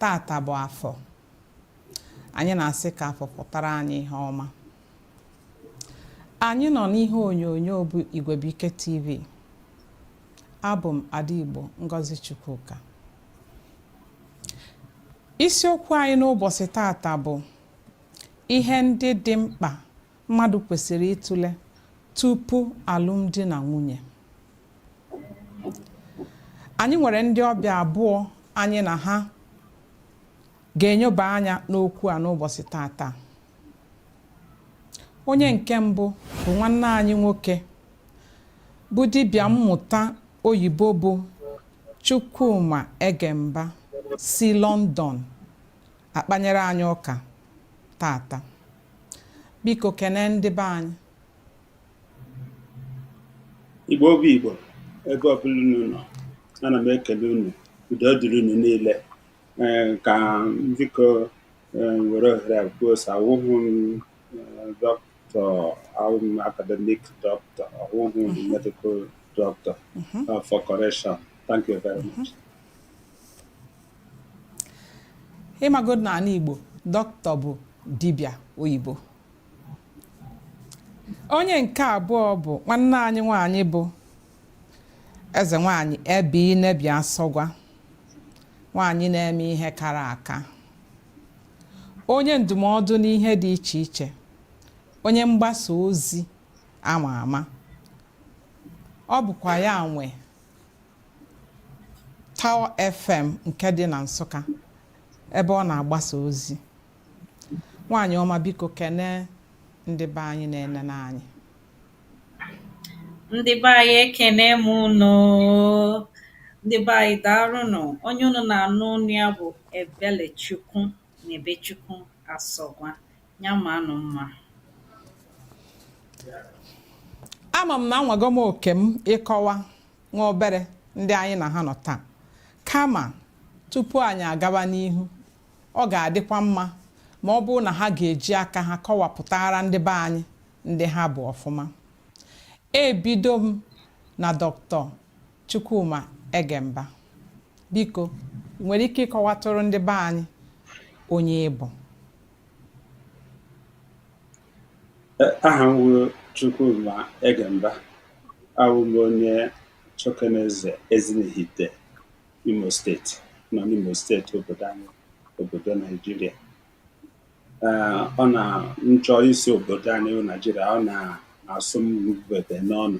tata bụ afọ anyị na-asị ka afọ fọtara anyị ihe ọma anyị nọ n'ihe onyonyo bụ Igwebuike TV abụ m Ada Igbo Ngozi Chukwuka isiokwu anyị n'ụbọchị tata bụ ihe ndị dị mkpa mmadụ kwesịrị ịtụle tupu alụmdi na nwunye anyị nwere ndị ọbịa abụọ anyị na ha ga-enyoba anya n'okwu a n'ụbọchị tata onye nke mbụ bụ nwanne anyị nwoke bụ dibịa mmụta oyibo bụ Chukwuma Egemba si London akpanyere anyị ụka tata biko kene ndị be anyị igbo bụ igbo ebe ọbụla unu nọ ana m ekele unu udo dịrị unu niile ee ka m biko were ohere a kwuo sị awụghị m doctor awụ m academic doctor awụghị m medical doctor for correction thank you very much ị mago n'ala igbo doctor bụ dibịa oyibo onye nke abụọ bụ nwanne anyị nwanyị bụ eze nwanyị ebe inebi asọgwa nwanyị na-eme ihe kara aka onye ndụmọdụ n'ihe dị iche iche onye mgbasa ozi ama ama ọ bụkwa ya nwe Tower FM nke dị na Nsụka ebe ọ na-agbasa ozi nwaanyị ọma biko kene ndị be anyị na-enene anyị ndị be anyị ekene m ụnụ ndị be anyị daalụnụ onye ụnụ na-anụ ọnụ ya bụ ebelechukwu nebechukwu asọgwa Ya manụ mma. Ama m na anwago m oke m ịkọwa nwa obere ndị anyị na ha nọ taa. Kama tupu anyị agaba n'ihu, ọ ga-adịkwa mma ma ọ bụrụ na ha ga-eji aka ha kọwapụtara ndị be anyị ndị ha bụ ọfụma. Ebido m na Dr. Chukwuma Egemba. Biko, ị nwere ike ịkọwatụrụ ndị be anyị onye ị bụ? aha m wụ Chukwuma Egemba awụ m onye Chokoneze Ezinihite Imo steeti nọ n'Imo steeti obodo anyị obodo Naijiria ọ na m chọọ ịsị obodo anyị bụ Naijiria ọ na-asụ m bebe n'ọnụ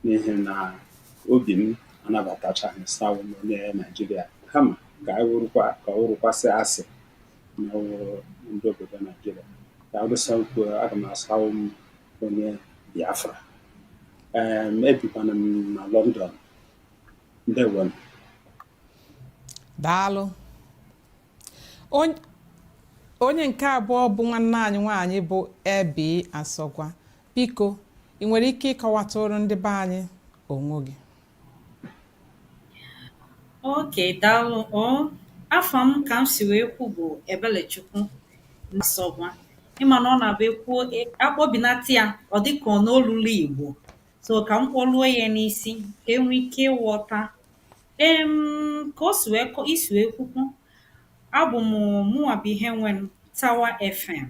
n'ihi na obi m anabatachaghị sị awụ m onye Naijiria kama ka ọ wụrụkwa sị a sị ndị obodo Naijiria ka arụsa ukwu aga m asị awụ m onye Biafra ebikwana m na London ndewo daalụ onye nke abụọ bụ nwanne anyị nwaanyị bụ Ebi Asọgwa biko ị nwere ike ịkọwatụrụ ndị be anyị onwe gị Okey daalụ oo. Afa m ka m si wee kwu bụ Ebelechukwu Asọgwa. Ị ma na ọ na-abụ e kwuo e a kpọbinata ya, ọ dị ka ọ na o luro Igbo. So ka m kpọluo ya n'isi ka e nwee ike ịghọta. Em ka o si wee kọ i si wee kwukwu, abụ mụ mụnwa bụ onye nwe Tower FM.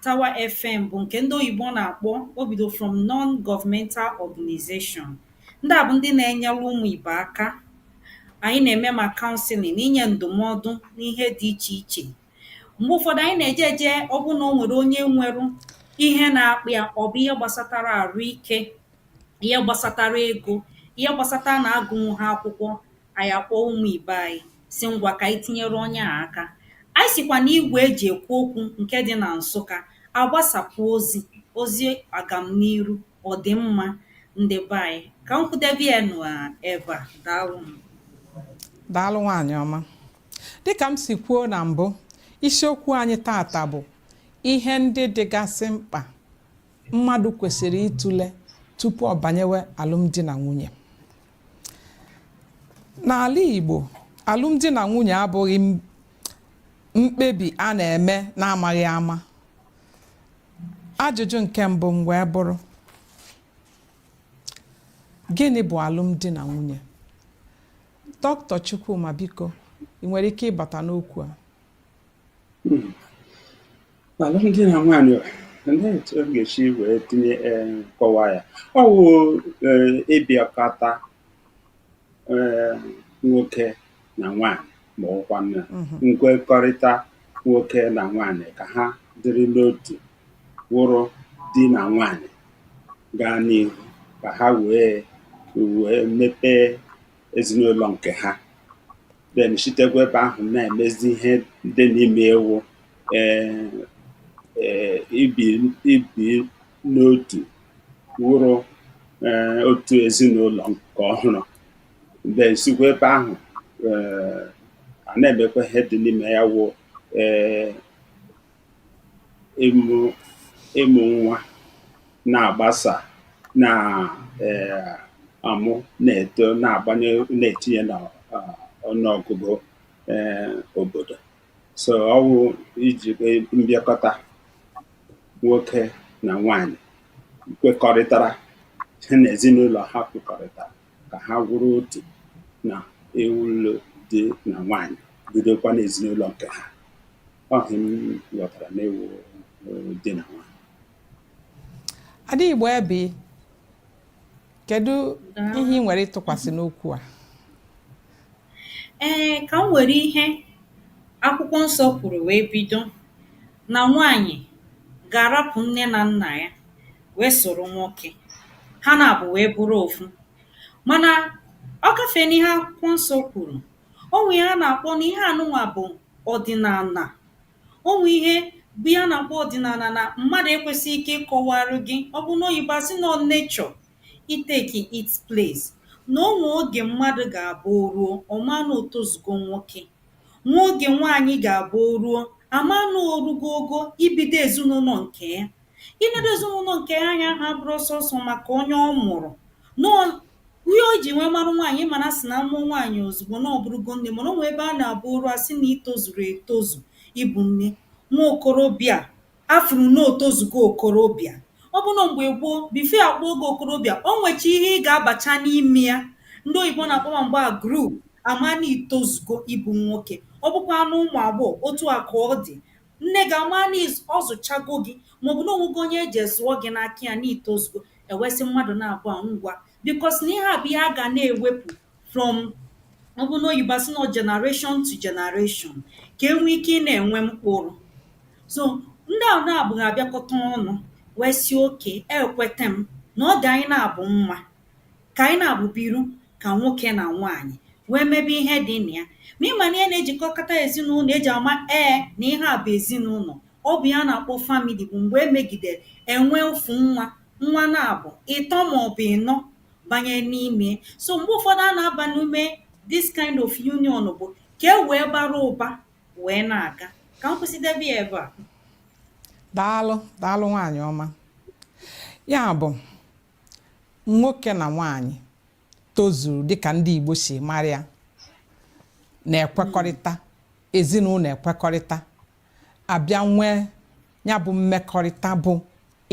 Tower FM bụ nke ndị oyibo na-akpọ o bido from non-governmental organization. Ndị a bụ ndị na-enyere ụmụ ibe aka. Anyị na-eme ma counseling na inye ndụmọdụ n'ihe dị iche iche. Mgbe ụfọdụ anyị na-eje eje ọ bụrụ na o nwere onye nwere ihe na-akpa ya ọ bụ ihe gbasatara arụ ike, ihe gbasatara ego, ihe gbasata na agụnwughị akwụkwọ, anyị akpọọ ụmụ ibe anyị sị ngwa ka anyị tinyere onye a aka anyị sikwa na igwe eji ekwu okwu nke dị na Nsụka agbasapụ ozi ozi agamniru ọdịmma ndị be anyị ka m kwụdebe ya n'ebe a daalụ m daalụ nwaanyị ọma dịka m si kwuo na mbụ isiokwu anyị tata bụ ihe ndị dịgasị mkpa mmadụ kwesịrị ịtụle tupu ọ banyewe alụmdi na nwunye n'ala Igbo alụmdi na nwunye abụghị mkpebi a na-eme n'amaghị ama ajụjụ nke mbụ m wee bụrụ gịnị bụ alụmdi na nwunye doctor Chukwuma biko ị nwere ike ịbata n'okwu a hmm. alụmdi na nwaanyị olee etu m ga-esi wee tinye ee kọwa ya ọ wụ ee ịbịakọta ee nwoke na nwaanyị ma ọ wụkwanụ nkwekọrịta nwoke na nwaanyị ka ha dịrị n'otu wụrụ di na nwaanyị gaa n'ihu ka ha wee wee mepee ezinụlọ nke ha then sitekwa ebe ahụ na-emezi ihe dị n'ime ya wụ ee ee ibi ibi n'otu wụrụ ee otu ezinụlọ nke ọhụrụ then sikwa ebe ahụ ee a na-emekwa ihe dị n'ime ya wụ ee ịmụ ịmụ nwa na-agbasa na eh, amụ na-eto na-agbanye na-etinye na ah, ọnụọgụgụ eh, obodo so ọ wụ iji eh, mbịakọta nwoke na nwanyị kwekọrịtara ha na ezinụlọ ha kwekọrịtara ka ha ga wụrụ otu na ịwụrụ di na nwaanyị bidokwa n'ezinụlọ nke ha ọ ihe m ghọtara n'ịwụ di na nwaanyị ada igbo ebe kedu ihe ị nwere ịtụkwasị n'okwu a ee ka m were ihe akwụkwọ nsọ kwuru wee bido na nwaanyị ga-arapụ nne na nna ya wee soro nwoke, ha naabọ wee bụrụ ofu. Mana ọ gafee n'ihe akwụkwọ nsọ kwuru. O nwee ihe a na-akpọ na ihe a nụnwa bụ ọdịnala. O nwee ihe bụ ihe a na-akpọ ọdịnala na mmadụ ekwesịghị ike ịkọwara gị. Ọ bụ n'oyibo a sị na ọ nature i take its place. Na o nwee oge mmadụ ga-abụ o ruo, ọ maa na o tozugo nwoke. Nwee oge nwaanyị ga-abụ o ruo, a maa na o rugo ogo ibido ezinụlọ nke ya. Ibido ezinụlọ nke ya ahụ abụrọ sọsọ maka onye ọ mụrụ. Na ọ ihe o ji wee marụ nwaanyị, ị ma na a sị na a mụọ nwaanyị ozugbo na ọ bụrụgo nne mana o nwee ebe a na-abụ o ruo, a sị na i tozuru etozu ịbụ nne. Nwa okorobịa A furu na o tozugo okorobịa. Ọ bụ na mgbe gboo, before a kpọọ gị okorobịa, o nwecha ihe ị ga-abacha n'ime ya. Ndị oyibo na-akpọ maybe age group, a maa na i tozugo ịbụ nwoke. Ọ bụkwanụ ụmụ agbọghọ, otu a ka ọ dị. Nne gị amaa na ọ zụchago gị maọbụ na o nwego onye e je zụọ gị n'aka ya na i tozugo, e wee sị mmadụ naabọ a ngwa. Because na ihe a bụ ihe a ga na-ewepụ from ọ bụ n'oyibo a sị na generation to generation ka e nwee ike ị na-enwe mkpụrụ so ndị ahụ naabọ ga-abịakọta ọnụ wee sị okay ekweta m na ọ dị anyị naabọ mma ka anyị naabọ biru ka nwoke na nwaanyị wee mebe ihe dị na ya ma ị ma na ihe na-ejikọkọta ezinụlọ e ji ama ee na ihe a bụ ezinụlọ ọ bụ ya a na-akpọ family bụ mgbe e megidere e nwee ofu nwa nwa naabọ ịtọ maọbụ ịnọ banye n'ime so mgbe ụfọdụ a na-aba n'ime this kind of union bụ ka e wee bara ụba wee na-aga ka m kwụsịdebe ya ebe a daalụ daalụ nwaanyị ọma ya bụ nwoke na nwaanyị tozuru dịka ndị Igbo si mara ya na-ekwekọrịta ezinụlọ ekwekọrịta a bịa nwee ya bụ mmekọrịta bụ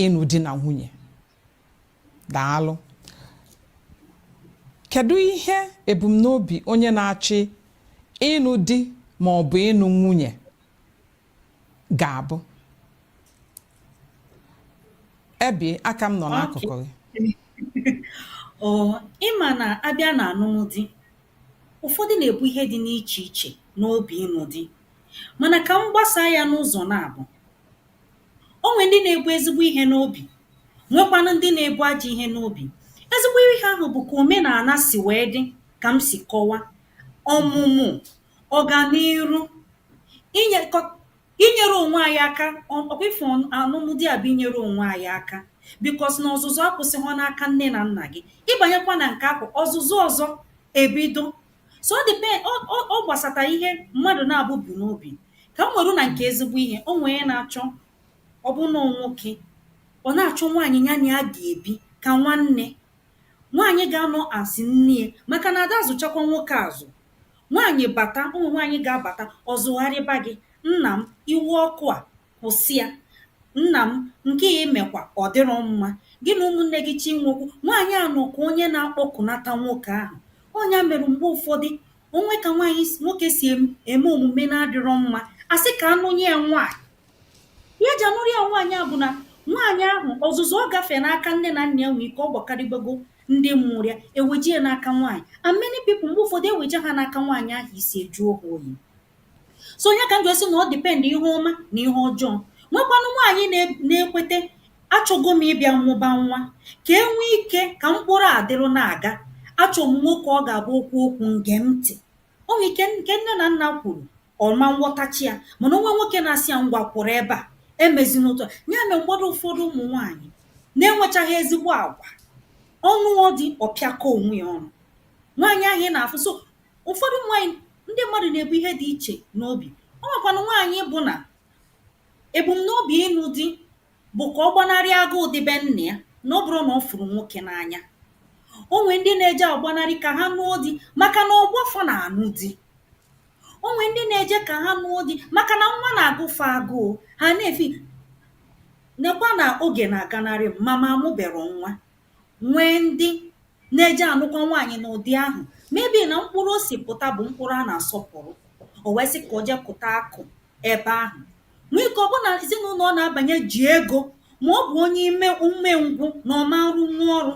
ịnụ di na nwunye daalụ kedu ihe ebumnobi onye na-achọ ịnụ di ma ọ bụ ịnụ nwunye ga-abụ ebi aka m nọ n'akụkụ gị ọ ị ma na a bịa na anụm di ụfọdụ na-ebu ihe dị n'iche iche n'obi ịnụ di mana ka m gbasaa ya n'ụzọ naabọ O nwere ndị na-ebu ezigbo ihe n'obi, nwekwanụ ndị na-ebu ajọ ihe n'obi. Ezigbo ihe ahụ bụ ka omenala si wee dị ka m si kọwa, ọmụmụ, ọganiru, inyekọ inyere onwe anyị aka ọ ọ kwa ị fụ anụmdi a bụ inyere onwe anyị aka because na ọzụzụ akwụsịghọ n'aka nne na nna gị. Ị banyekwa na nke ahụ, ọzụzụ ọzọ ebido so ọ depend ọ gbasata ihe mmadụ na-ebu n'obi ka m were na nke ezigbo ihe o nwee onye na-achọ ọ bụ na nwoke ọ na-achọ nwaanyị ya na ya ga-ebi ka nwanne nwaanyị ga-anọ as nne maka na a da azụchakwa nwoke azụ nwaanyị bata o nwee nwaanyị ga-abata ọ zụgharịba gị nna m iwe ọkụ a Kwụsị ya! Nna m, nke a i mekwa, ọ dịrọ mma. Gị na ụmụnne gị cha inwe okwu. Nwaanyị a nọ ka onye na-akpọkunata nwoke ahụ. Ọ ya mere mgbe ụfọdụ, o nwee ka nwaanyị, nwoke si em, eme omume na-adịrọ mma, a sị ka a nụnye ya nwaanyị. Ihe e ji anụrụ ya nwaanyị a bụ na nwaanyị ahụ, ọzụzụ ọ gafere n'aka nne na nna ya nwee ike ọ gbakarịbago ndị mụrụ ya, e weje ya n'aka nwaanyị. And many people, mgbe ụfọdụ, e weje ha n'aka nwaanyị ahụ, isi ejuo ha oyi. so ọ ya ka m ji sị na ọ depend ihe ọma na ihe ọjọọ nwekwanụ nwaanyị na-ekweta achọgo m ịbịa mụba nwa ka e nwee ike ka mkpụrụ a dịrụ na-aga achọ m nwoke ọ ga-abụ o kwuo okwu m gee ntị o nwee ike nke nne na nna kwuru ọ ma nghọtacha ya mana o nwee nwoke na-asị ya ngwa kwụrụ ebe a emezina otu a ya mere mgbe ụfọdụ ụfọdụ ụmụ nwaanyị na-enwechaghị ezigbo agwa ọ nụọ di ọ pịakọ onwe ya ọnụ nwaanyị ahụ ị na-afụ so Ụfọdụ ụmụ nwaanyị ndị mmadụ na-ebu ihe dị iche n'obi. O nwekwanụ nwaanyị bụ na ebumnobi ịnụ di bụ ka ọ gbanarị agụụ dị be nna ya na ọ bụrọ na ọ fụrụ nwoke n'anya. O nwee ndị na-eje agbanarị ka ha nụọ di maka na ọgbọ fa na-anụ di. O nwee ndị na-eje ka ha nụọ di maka na nwa na-agụ fa agụụ, ha na-asị, nekwa na oge na-aganarị m, ma mụ amụberọ nwa. nwee ndị na-eje anụkwa nwaanyị n'ụdị ahụ maybe na mkpụrụ o si pụta bụ mkpụrụ a na-asọpụrụ o wee sị ka o jee kụta akụ ebe ahụ nwee ike ọ bụrụ na ezinụlọ ọ na-abanye ji ego ma ọ bụ onye ime umengwụ na ọ ma nrụnwu ọrụ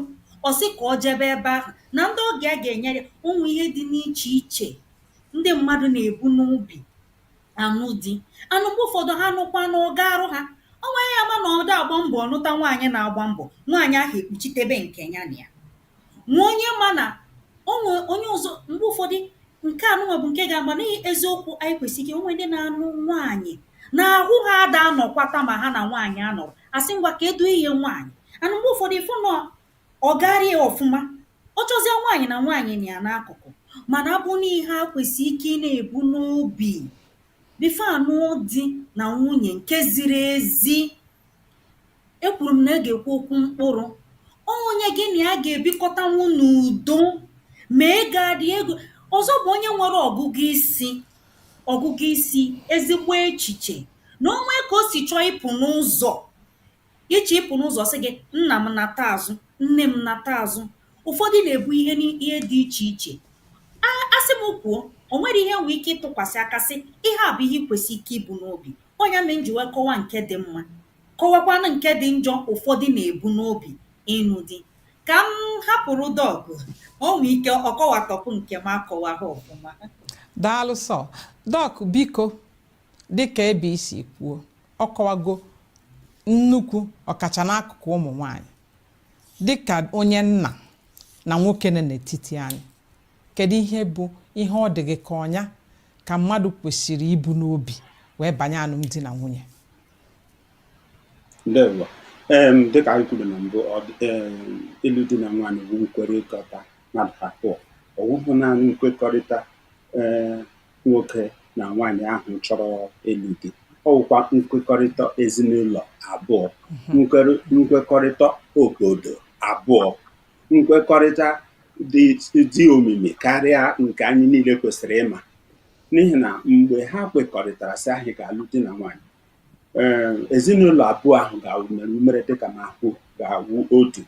ọ sị ka ọ jebe ebe ahụ na ndị ọgọ ya ga-enyere ụmụ ihe dị n'iche iche ndị mmadụ na-ebu n'obi ànụ di and m̀gbe ụ̀fọdụ ha nụkwanụ ọ gaarụ ha. O nwee onye ma na ọ daa agba mbọ̀ ọ nụta nwaanyị na-agba mbọ̀, nwaanyị ahụ ekpuchitebe nke ya na ya. Nwee onye ma na o nwee onye ọzọ m̀gbe ụfọdụ nke a nụnwa bụ nke ga-agba na i eziokwu anyị kwesị ike o nwee ndị na-anụ nwaanyị na ahụ ha ada anọkwata ma ha na nwaanyị anọrọ, a sị ngwa kedụ ihe nwaanyị and mgbe ụfọdụ ị fụ na ọ gaarị ya ọfụma. Ọ chọzịa nwaanyị na nwaanyị nọ ya n'akụkụ mana abụ na ihe a kwesị ike ị na-ebu n'obi before a nụọ di na nwunye nke ziri ezi. Ekwuru m na a ga-ekwu okwu mkpụrụ. Ọ onye gị na ya ga-ebikọtanwu n'udo ma ego adị ego ọzọ bụ onye nwere ọgụgụ isi ọgụgụ isi ezigbo echiche na o nwee ka o si chọọ ịpụ n'ụzọ Gị chọọ ịpụ n'ụzọ, ọ sị gị, Nna m, nata azụ, nne m, nata azụ. Ụfọdụ na-ebu ihe ni ihe dị iche iche. A a sị m kwuo, o nwere ihe e nwee ike ịtụkwasị aka sị, Ihe a bụ ihe i kwesịrị ike ibu n'obi. Ọ ya mere m ji wee kọwaa nke dị mma, kọwakwaanụ nke dị njọ ụfọdụ na-ebu n'obi, ịnụ di. Ka m hapụrụ Doc, o nwee ike ọ kọwatọpụ nke m akọwaghị ọfụma. Daalụ sọ. Doc, biko, dịka ebe isi kwuo ọ kọwago nnukwu ọkacha n'akụkụ ụmụ nwanyị dịka onye nna na nwoke nọ n'etiti anyị kedu ihe bụ ihe ọ dị gị ka ọ ya ka mmadụ kwesịrị ibu n'obi wee banye alụmdi na nwunye ndewo em dịka anyị kwuru na mbụ ọ dị- em, ịlụ di na nwaanyị bụ nkwekọrịta mmadụ abụọ ọ bụghị naanị nkwekọrịta ee nwoke na nwaanyị ahụ chọrọ ịlụ di ọ wụkwa nkwekọrịta ezinụlọ abụọ nkwere- nkwekọrịta obodo abụọ nkwekọrịta dị dị omimi karịa nke anyị niile kwesịrị ịma n'ihi na mgbe ha kwekọrịtara sị anyị ga-alụ di na nwaanyị ee ezinụlọ abụọ ahụ ga-awụ mere umere dịka na akwụ ga-awụ otu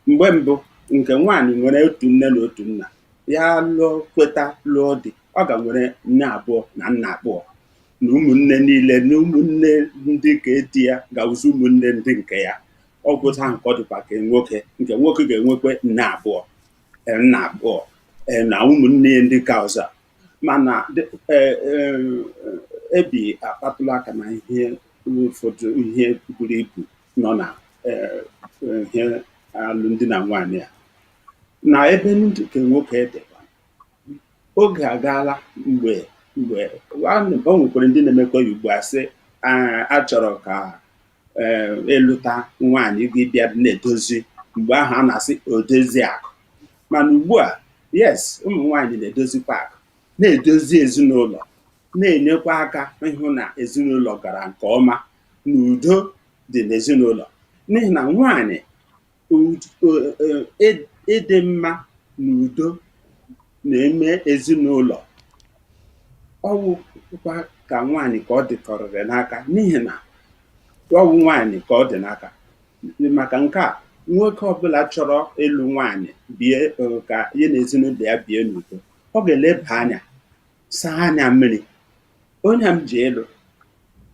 mgbe mbụ nke nwaanyị nwere otu nne na otu nna ya lụọ kweta lụọ di ọ ga nwere nne abụọ na nna abụọ na ụmụnne niile na ụmụnne ndị nke di ya ga-awụzi ụmụnne ndị nke ya ọ wụ otu ahụ ka ọ dịkwa nke nwoke nke nwoke ga-enwekwa nne abụọ ee, nna abụọ ee, na ụmụnne ya ndị nke ọzọ mana e, e, ebi akpatụla aka na ihe ụfọdụ ihe buru ibu nọ na e, ihe alụmdi na nwaanyị a na ebe ndị nke nwoke dịkwa oge agaala mgbe mgbe o nwekwara ndị na-emekwa ya ugbu a sị achọrọ ka ịlụta eh, e nwaanyị gị bịa na-edozi mgbe ahụ a na-asị odozi akụ mana ugbu a yes ụmụ nwaanyị na-edozikwa akụ na-edozi ezinụlọ na-enyekwa aka ịhụ na ezinụlọ gara nke ọma na udo dị n'ezinụlọ n'ihi na nwaanyị Ud eh, eh, ị- ịdị mma na udo n'ime ezinụlọ ọ wụkwa ka nwaanyị ka ọ dịkọrịrị n'aka n'ihi na ọ wụ nwaanyị ka ọ dị n'aka maka nke a nwoke ọbụla chọrọ ịlụ nwaanyị bie eh, ka ya na ezinụlọ ya bie n'udo ọ ga-eleba anya saa anya mmiri onye m ga-alụ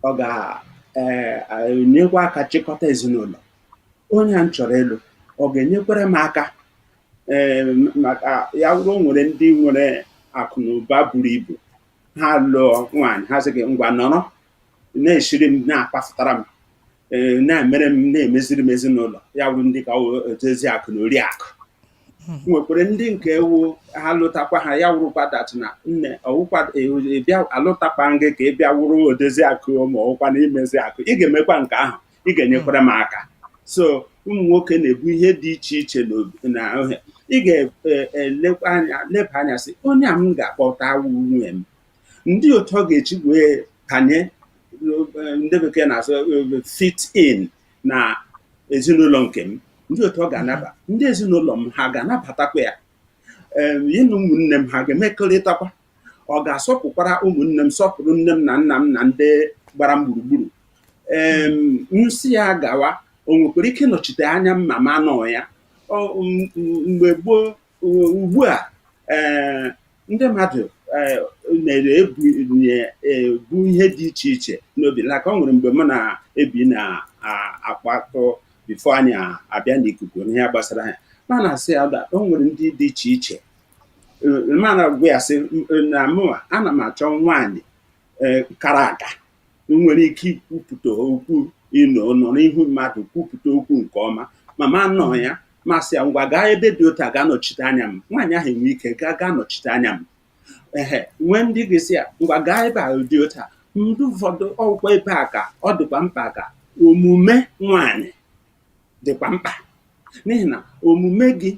ọ ga-enyekwa eh, aka chịkọta ezinụlọ onye a m chọrọ ịlụ ọ ga-enyekwara m aka eh, maka ya wụrụ o nwere ndị nwere akụ na ụba buru ibu ha lụọ nwaanyị ha sị gị ngwa nọrọ na-esiri m na-akpafụtara m ee, na-emere m na-emeziri m ezinụlọ ya wụrụ ndị a ọ wụ odozi akụ na ori akụ nwekwara ndị nke ọ wụ ha lụtakwa ha ya wụrụkwa that na nne ọ wụkwa e- e- bịa alụtakwa gị ka ị bịa wụrụ odozi akụ ma ọ wụkwa na imezi akụ ị ga-emekwa nke ahụ ị ga-enyekwara m aka so ụmụ nwoke na-ebu ihe dị iche iche n'obi- na ihe ị ga-elekwa anya leba anya sị onye a m ga-akpọta wụ nwunye m ndị otu ọ ga-eji wee banye ndị bekee na-asụ eh, fit in na ezinụlọ nke m ndị otu ọ ga-anaba ndị ezinụlọ m ha ga-anabatakwa ya ya na ụmụnne m ha ga-emekọrịtakwa ọ ga-asọpụkwara ụmụnne m sọpụrụ nne m na nna m na ndị gbara m gburugburu ee m sị ya gawa o nwekwara ike ịnọchite anya m ma m anọ ya mgbe gboo ugbu a eh, ndị mmadụ eh, na-ebu eh, ihe dị iche iche n'obi like o nwere mgbe m na ebi na-akpatụ before anyị abịa n'ikuku n'ihe gbasara ya m ana-asị ya o nwere ndị dị iche iche m ana-agwa ya sị na mụwa ana m achọ nwaanyị kara aka nwere ike ikwupụta okwu ịnọ nọrọ n'ihu mmadụ kwupụta okwu nke ọma ma m anọ ya m asị ya ngwa gaa ebe dị otu a gaa nọchite anya m nwaanyị ahụ enwe ike gaa gaa nọchite anya m ehe nwee ndị ị ga-asị ya ngwa gaa ebe a dị otu a ndị ụfọdụ ọ wụkwa ebe a ka ọ dịkwa mkpa ka omume nwaanyị dịkwa mkpa n'ihi na omume gị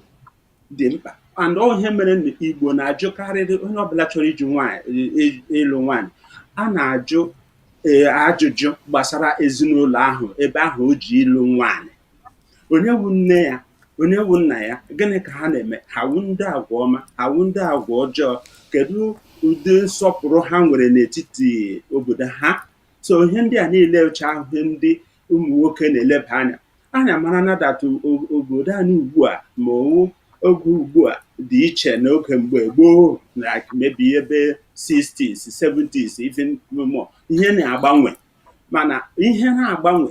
dị mkpa and ọ wu ihe mere na igbo na-ajụkarịrị onye ọbụla chọrọ iji nwaanyị ị- ịlụ nwaanyị a na-ajụ ee, ajụjụ gbasara ezinụlọ ahụ ebe ahụ o ji ịlụ nwaanyị onye wu nne ya onye wu nna ya gịnị ka ha na-eme ha wu ndị agwa ọma ha wu ndị agwa ọjọọ kedu ụdị nsọpụrụ ha nwere n'etiti obodo ha so ihe ndị a niile wucha ihe ndị ụmụ nwoke na-eleba anya anya mara na that obodo anyị ugbu a ma ọ wu oge ugbu a dị iche n'oge mgbe gboo like maybe ebe 60s 70s even more ihe na-agbanwe mana ihe na-agbanwe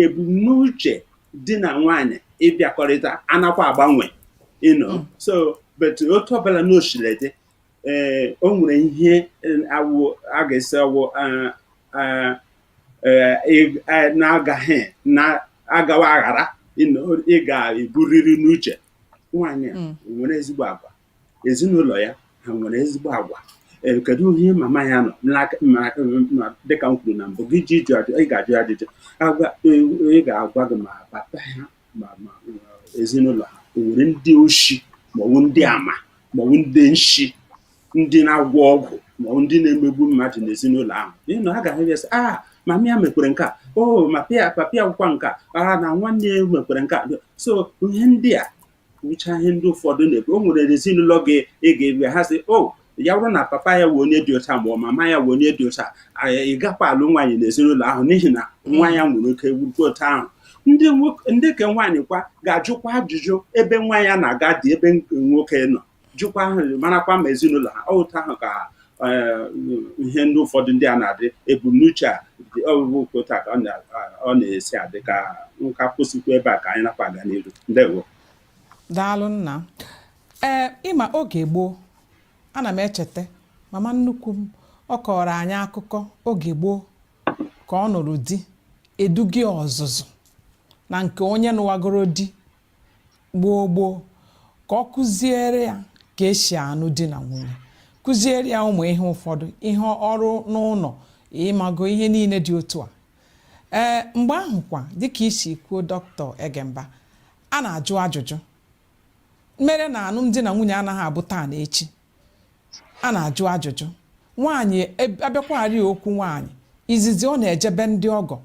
ebumnuche di na nwanyị ịbịakọrịta anakwa agbanwe you know hmm. so but otu ọbụla na o siri dị ee o nwere ihe awụ a ga-esi awụ na-agaghị na-agawa aghara ị ga-eburiri n'uche nwaanyị a nwere ezigbo agwa ezinụlọ ya ha nwere ezigbo agwa ee kedu ihe mama ya nọ dịka m kwuru na mbụ gị ji ịjụ ajụ ị ga-ajụ ajụjụ agwa a ga-agwa gị ma papa ya ma ma ezinụlọ ha o nwere ndị oshi maọbụ ndị ama maọbụ ndị nshi ndị na-agwọ ọgwụ maọbụ ndị na-emegbu mmadụ n'ezinụlọ ahụ n'ihi na ha ga-ahụ ya sị a ah, mama ya mekwere nke a o oh, ma pa- papa ya wụkwa nke a ah, na nwanne ya mekwere nke a so ihe ndị a wụcha ihe ndị ụfọdụ na-ekwu o nwere ezinụlọ gị gaba ha sị o oh, ya wụrụ na papa ya wụ onye dị otu a ma ọ mama ya wụ onye dị otu a ị gakwa alụ nwaanyị n'ezinụlọ ahụ n'ihi na nwa ya nwere ike wurukwa otu ahụ ndị nke nwaanyị kwa ga-ajụkwa ajụjụ ebe nwa ya na-aga di ebe nwoke nọ jụkwa ahụ marakwa ma ezinụlọ ha otu ahụ ka eh, ihe ndị ụfọdụ ndị a na-adị ebumnuche a dị ọgụgụ nke otu ka ọ na-esi adị ka m kwụsịkwa ebe a ka anyị nakwa aga n'iru ndewo daalụ nna ee ị ma oge gboo ana m echeta mama nnukwu m ọ kọọrọ anyị akụkọ oge gboo ka ọ nụrụ di e duga ya ọzụzụ na nke onye nụwagoro di gboo gboo ka ọ kuziere ya ka e si anụ di na nwunye kuziere ya ụmụ ihe ụfọdụ ihe ọrụ n'ụnọ ị mago ihe niile dị otu a ee mgbe ahụ kwa dịka i si kwuo dọkịta egemba a na-ajụ ajụjụ mere na anụmdi na nwunye anaghị abụ taa na echi a na-ajụ ajụjụ nwaanyị e- a bịakwarị okwu nwaanyị izizi ọ na-ejebe ndị ọgọ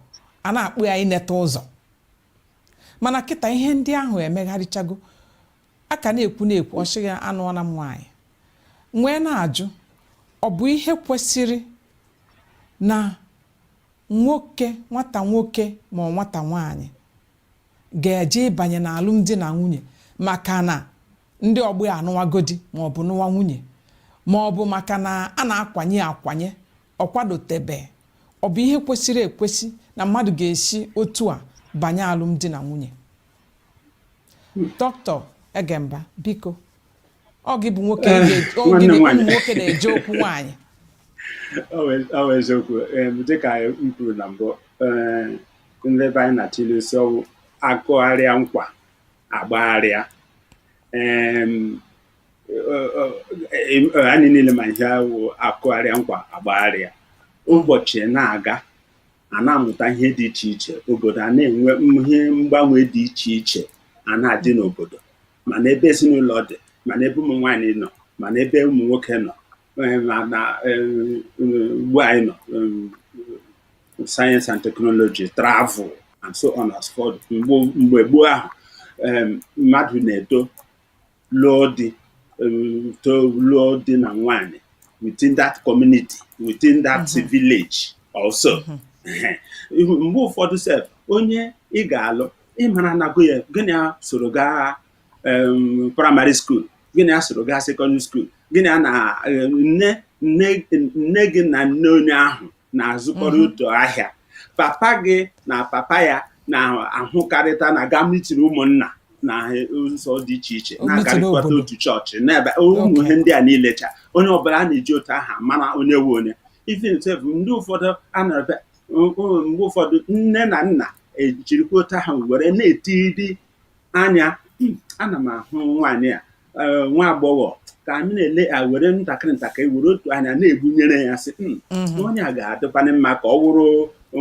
a na-akpọ ya ineta ụzọ mana kịta ihe ndị ahụ emegharịchago a ka na-ekwu na-ekwu ọ sị gị anụọla m nwaanyị m wee na-ajụ ọ bụ ihe kwesịrị na nwoke nwata nwoke ma nwata nwaanyị ga-eji banye n'alụmdi na nwunye maka na ndị ọgbọ ya anụwago di ma ọ bụ nụwa nwunye ma ọ bụ maka na a na-akwanye ya akwanye ọ kwadotebe ọ bụ ihe kwesịrị ekwesị na mmadụ ga-esi otu a banye alụmdi na nwunye dọkịta Egemba biko ọ gị bụ nwoke Eh, ga- ọ nwanne gị bụ ụmụ nwaanyị. nwoke na-eje okwu nwaanyị Ọ bụ- ọ bụ eziokwu Em, dịka m kwuru na mbụ eh, ndị be anyị na-atụ ilu sị ọ wụ a kụgharịa nkwa a gbagharịa Em, ọ- ọ- em, ọ, anyị niile ma ihe a wụ a kụgharịa nkwa a gbagharịa ụbọchị na-aga a na-amụta ihe dị iche iche obodo a na-enwe ihe mgbanwe dị iche iche a na-adị n'obodo ma n'ebe ezinụlọ dị ma n'ebe ụmụ nwaanyị nọ ma n'ebe ụmụ nwoke nọ eh, ma na eh, ugbu a anyị nọ eh, science and technology travel and so on and so forth mgbe gboo ahụ mmadụ na-eto lụọ di to lụọ di na nwanyị within that community within that mm-hmm. village also mm-hmm. mgbe ụfọdụ sef onye ị ga-alụ ị mara na ọ ga-awụ onye gị na ya soro gaa primary school gị na ya soro gaa secondary school gị na ya na nne gị na nne onye ahụ na-azụkọrọ mhm. otu ahịa papa gị na papa ya na-ahụkọrịta na-aga meeting ụmụnna na ụzọ dị iche iche na-agarịkọta otu chọọchị na ebe ụmụ ihe ndị a niile cha onye ọbụla a na-eji otu aha mara onye wu onye even sef ndị ụfọdụ a na mgbe ụfọdụ nne na nna ejirikwa otu aha were na-etiri anya hmm, ana m ahụ nwaanyị a eh, nwa agbọghọ ka anyị na-ele ya were ntakịrị ntakịrị were otu anya na-egbunyere ya sị hmm, mhm. onye a ga-adịkwanụ mma ka ọ wụrụ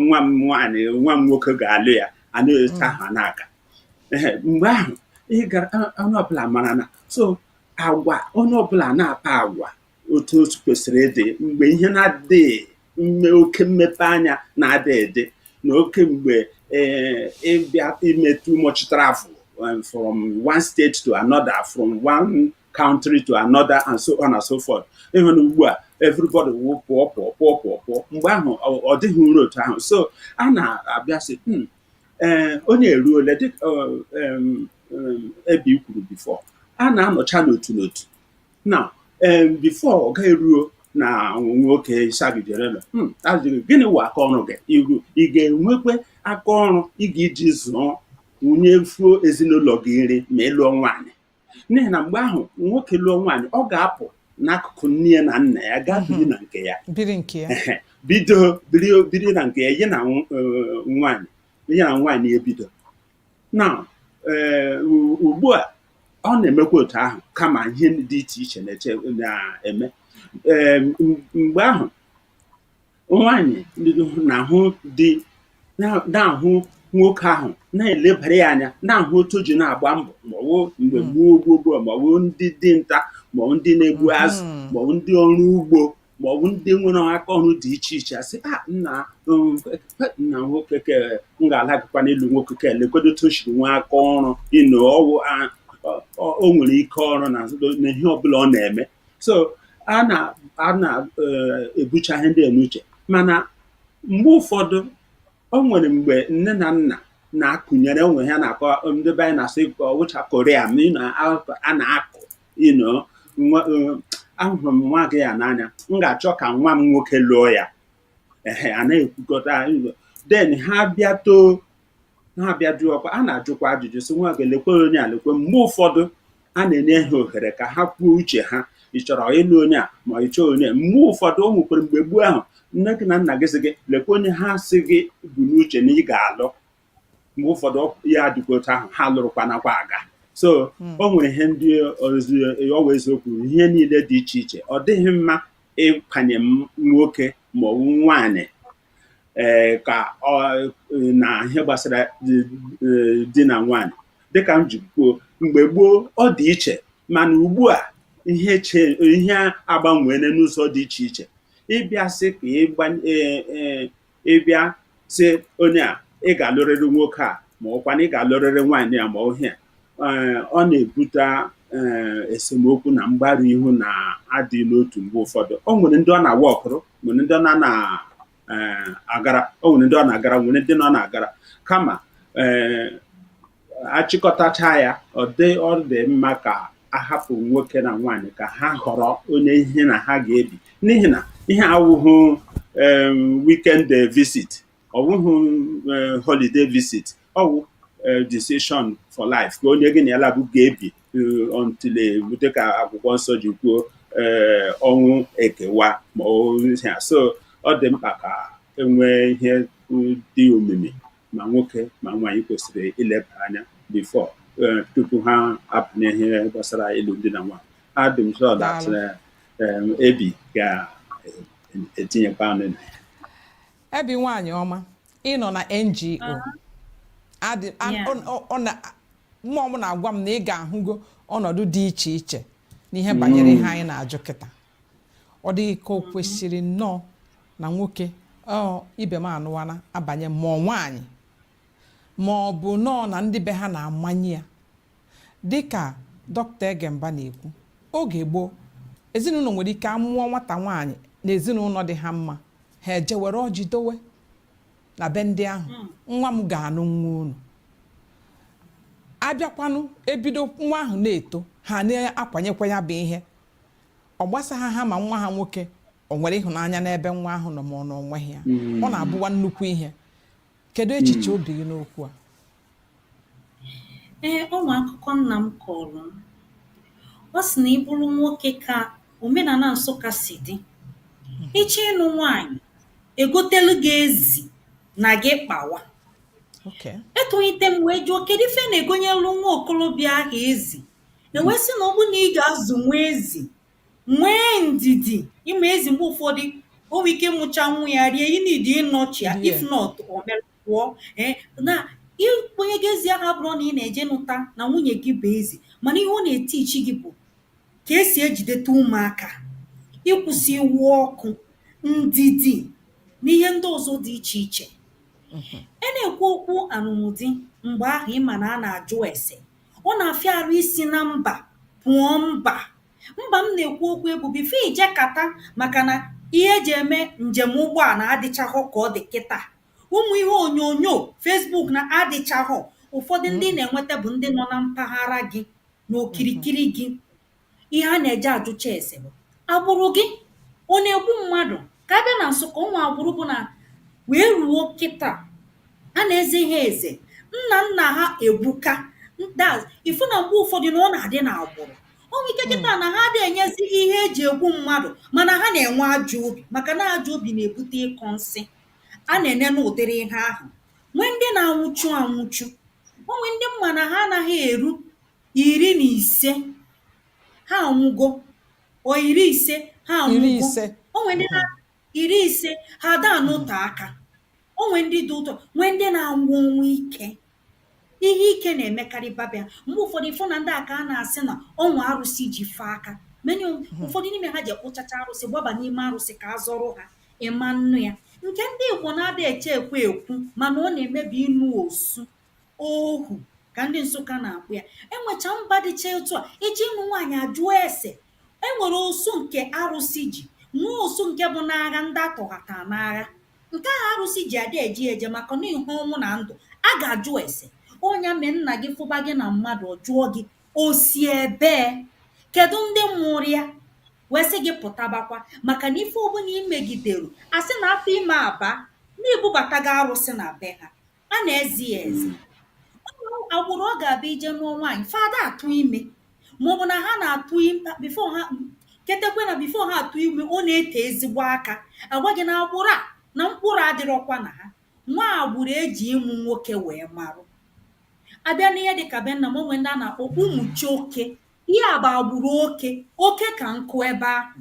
nwa m nwaanyị nwa m nwoke ga-alụ ya a na-eche hmm. ahụ n'aka mgbe ahụ ị ga-ahụ onye ọbụla mara na so agwa onye ọbụla na-akpa agwa otu otu kwesịrị ịdị mgbe ihe na-adịghị mme oke mmepe anya na-adịghị adị na oke mgbe eh, ị bịa ime too much travel um, from one state to another from one country to another and so on and so forth ị hụ na ugbu a everybody wụ pụọ pụọ pụọ pụọ pụọ mgbe ahụ ọ- ọ dịghịrị otu ahụ so a na-abịa sị "Hmm, ee onye a eruole dịka ọ, em, em, ebe i kwuru before a na-anọcha n'otu n'otu na before ọ ga-eruo na nwoke isabijerela hmm, ajụọ gị gịnị wụ aka ọrụ gị iru ị ga-enwekwa aka ọrụ ị ga-iji zụọ nyefuo ezinụlọ gị nri ma ị lụọ nwaanyị n'ihi na mgbe ahụ nwoke lụọ nwaanyị ọ ga-apụ n'akụkụ nne ya na nna ya gaa biri hmm. na nke ya bido biri na nke ya ya na e, nwaanyị ya na nwaanyị ebido na eh, ugbu a ọ na-emekwa otu ahụ kama ihe dị iche iche na-eme eh, mgbe ahụ nwaanyị na-ahụ di na-ahụ nwoke ahụ na-elebara ya anya na-ahụ otu o ji na-agba mbọ maọwụ mgbe hmm. gboo gboo gboo maọwụ ndị dinta maọwụ ndị na-egbu hmm. azụ maọwụ ndị ọrụ ugbo ma ọ bụ ndị nwere aka ọrụ dị iche iche a sị ah, nna um, nna nwoke ke m ga-alagakwa n'elu nwoke ke lekwedo otu o shiri nwee aka ọrụ you know ọwụ o nwere ike ọrụ na ihe ọbụla ọ na-eme so a na-ebucha eh, ihe ndị a n'uche mana mgbe ụfọdụ o nwere mgbe nne na nna na-akụnyere onwe ha na-akọ ndị be anyị na-asị wụcha koria ma a na-akụ you know nwa eh, ahụrụ m nwa gị ya n'anya m ga-achọ ka nwa m nwoke lụọ ya ehe a na-ekwukọta then ha bịa too ha bịa jụọ ọkwa a na-ajụkwa ajụjụ sị nwa gị lekwe onye a lekwe mgbe ụfọdụ a na-enye ha ohere ka ha kwuo uche ha ị chọrọ ịlụ onye a ma ị chọọ onye mgbe ụfọdụ o nwekwara mgbe gboo ahụ nne gị na nna gị sị gị lekwa onye ha sị gị bu n'uche na ị ga-alụ mgbe ụfọdụ ya adịkwa otu ahụ ha lụrụkwa nakwa aga so hmm. o nwere ihe ndị ọ wụ eziokwu ihe niile dị iche iche ọ dịghị mma ịkwanye nwoke ma ọ bụ nwaanyị ee eh, ka na ihe gbasara eh, di na nwaanyị dịka m ji kwuo mgbe gboo ọ dị iche mana ugbu a ihe ihe agbanweela n'ụzọ dị iche iche ịbịa sị ka eh, ịbịa sị onye a ị ga-alụrịrị nwoke a ma ọ wụkwa na ị ga-alụrịrị nwaanyị a ma ọ ihe a eh, ọ na-ebute eh, esemokwu na mgbaru ihu na adị n'otu mgbe ụfọdụ o nwere ndị ọ na-aworkụrụ nwere ndị ọ na-agara eh, o nwere ndị ọ na-agara nwere ndị ọ na-agara kama a chịkọtacha ya ọ dị ọ dị mma ka a hapụ nwoke na nwaanyị ka ha họrọ onye ihe na ha ga-ebi n'ihi na ihe a awụhụ em, weekend eh, visit ọ wụhụ eh, holiday visit ọ wụ eh, decision for life ka onye gị na ya laabụ ga-ebi eh, until eh, dịka akwụkwọ nsọ ji kwuo eh, ọnwụ ekewa ma ọ ihe a. so ọ dị mkpa ka e nwee ihe mm, dị omimi ma nwoke ma nwaanyị kwesịrị ileba anya before eh, tupu ha abanye ihe gbasara ịlụ di na nwaanyị adụm sọ that Daalụ. eh, em, Ebi ga-etinyekwa ọnụ na ya Ebi nwaanyị ọma ị nọ na ngo adị a- Yeah. ọ- ọ- ọ na- mmụọ m na-agwa m na ị ga-ahụgo ọnọdụ dị iche iche n'ihe banyere ihe anyị na-ajụ kịta ọ dịghị ka o mm-hmm. kwesịrị nnọọ na nwoke ibe m anụwana abanye ma ọ nwaanyị ma ọ bụ nọọ na ndị be ha na-amanye ya dịka dọkịta Egemba na-ekwu oge gboo ezinụlọ nwere ike amụọ nwata nwaanyị na ezinụlọ dị ha mma ha eje were ọjị dowe na be ndị ahụ hmm. nwa m ga-anụ nwa unu a bịakwanụ e bido nwa ahụ na-eto ha na-akwanyekwa ya bụ ihe ọ gbasaghị ha ma nwa ha nwoke o nwere ịhụnanya n'ebe nwa ahụ nọ ma ọ na o nweghị ya ọ na-abụwa nnukwu ihe kedu echiche obi gị n'okwu a Ee, o nwe akụkọ nna m kọọrọ m. Ọ sị na ị bụrụ nwoke ka omenana Nsụka si dị. Ị chọọ ịnụ nwaanyị, e gotelụ gị ezi na gị kpawa. Okay. Etonite m wee jụọ kedu ife a na-egonyelụ nwa okolobịa ahụ ezi e wee sị na ọ bụrụ na ị ga-azụ nwa ezi nwee ndidi ị ma ezi mgbe ụfọdụ o nwere ike ịmụcha nwa ya rie ị need ịnọchi ya if Yeah. not o merụkpọọ ee na ịkpọnye gị ezi ahụ abụrọ na ị na-eje nụta na nwunye gị bụ ezi mana ihe ọ na-eteach gị bụ ka e si ejideta ụmụaka ịkwụsị iwe ọkụ ndidi na ihe ndị ọzọ dị iche iche Mhm. a na-ekwu okwu anụmdi mgbe ahụ ị ma na a na-ajụ ese Ọ na-afịa arụ isi na mba pụọ mba. Mba m na-ekwu okwu ya bụ before i jekata makana ihe e ji eme njem ụgbọala adịchahọ ka ọ dị kịta. Ụmụ ihe onyonyo, Facebook na adịchahọ. Ụfọdụ ndị ị na-enweta bụ ndị nọ na mpaghara gị na okirikiri gị. ihe a na-eje ajụcha ese bụ agbụrụ gị ọ na-egbu mmadụ ka a bịa na Nsụka o nwe agbụrụ bụ na wee ruo kịta a na-eze ha eze nna nna ha egbuka that's ị fụ na mgbe ụfọdụ na ọ na-adị na agbụrụ o nwere ike kịta na ha adịghị enyezi ihe e ji egbu mmadụ mana ha na-enwe ajọ obi maka na ajọ obi na-ebute ịkọ nsị a na-ene n'ụdịrị ihe ahụ nwee ndị na-anwụchu anwụchu o nwee ndị ị ma na ha anaghị eru Iri na ise, ha anwụgo. Or iri ise, ha Iri anwụgo. ise. O nwere ndị na iri ise, ha ada anọte aka. O nwee ndị dị ụtọ, nwee ndị na-anwụ ọnwụ ike. Ihe ike na-emekarịba be ha. Mgbe ụfọdụ, ị fụ na ndị a ka a na-asị na o nwe arụsị ji fa aka. Many of ụfọdụ n'ime ha jekwuchacha arụsị, gbaba n'ime arụsị ka a zọrọ ha. Ị manụ ya. Nke ndị Igbo na-ada eche ekwe ekwu mana ọ na-eme bụ ịnụ osu. ohu ka ndị nsụka na-akpọ ya enwecha mba dịcha etu a e je ịnụ nwaanyị a jụọ ese e nwere osu nke arụsị ji nwee osu nke bụ n'agha ndị atọghata n'agha nke ahụ arụsị ji ada eji eje maka na ihe ọnwụ na ndụ a ga-ajụ ese ọ nya mee nna gị fụba gị na mmadụ ọ jụọ gị o si ebee kedu ndị mụrụ ya wee sị gị pụtabakwa maka na ife ọbụla i megidere a sị na afọ ime abaa na i bubatago arụsị na be ha a na-eze ya eze agbụrụ ọ ga-abụ ije nụọ nwaanyị fa ada atụ ime maọbụ na ha na-atụ before ha ketekwe na before ha atụ ime ọ na-ete ezigbo aka a gwa gị na agbụrụ a na mkpụrụ adịrọkwa na ha nwee agbụrụ e ji ịmụ nwoke wee marụ a bịa n'ihe dịka be nna m o nwee ndị a na-akpọ ụmụchioke ihe a bụ agbụrụ oke oke ka nkụ ebe ahụ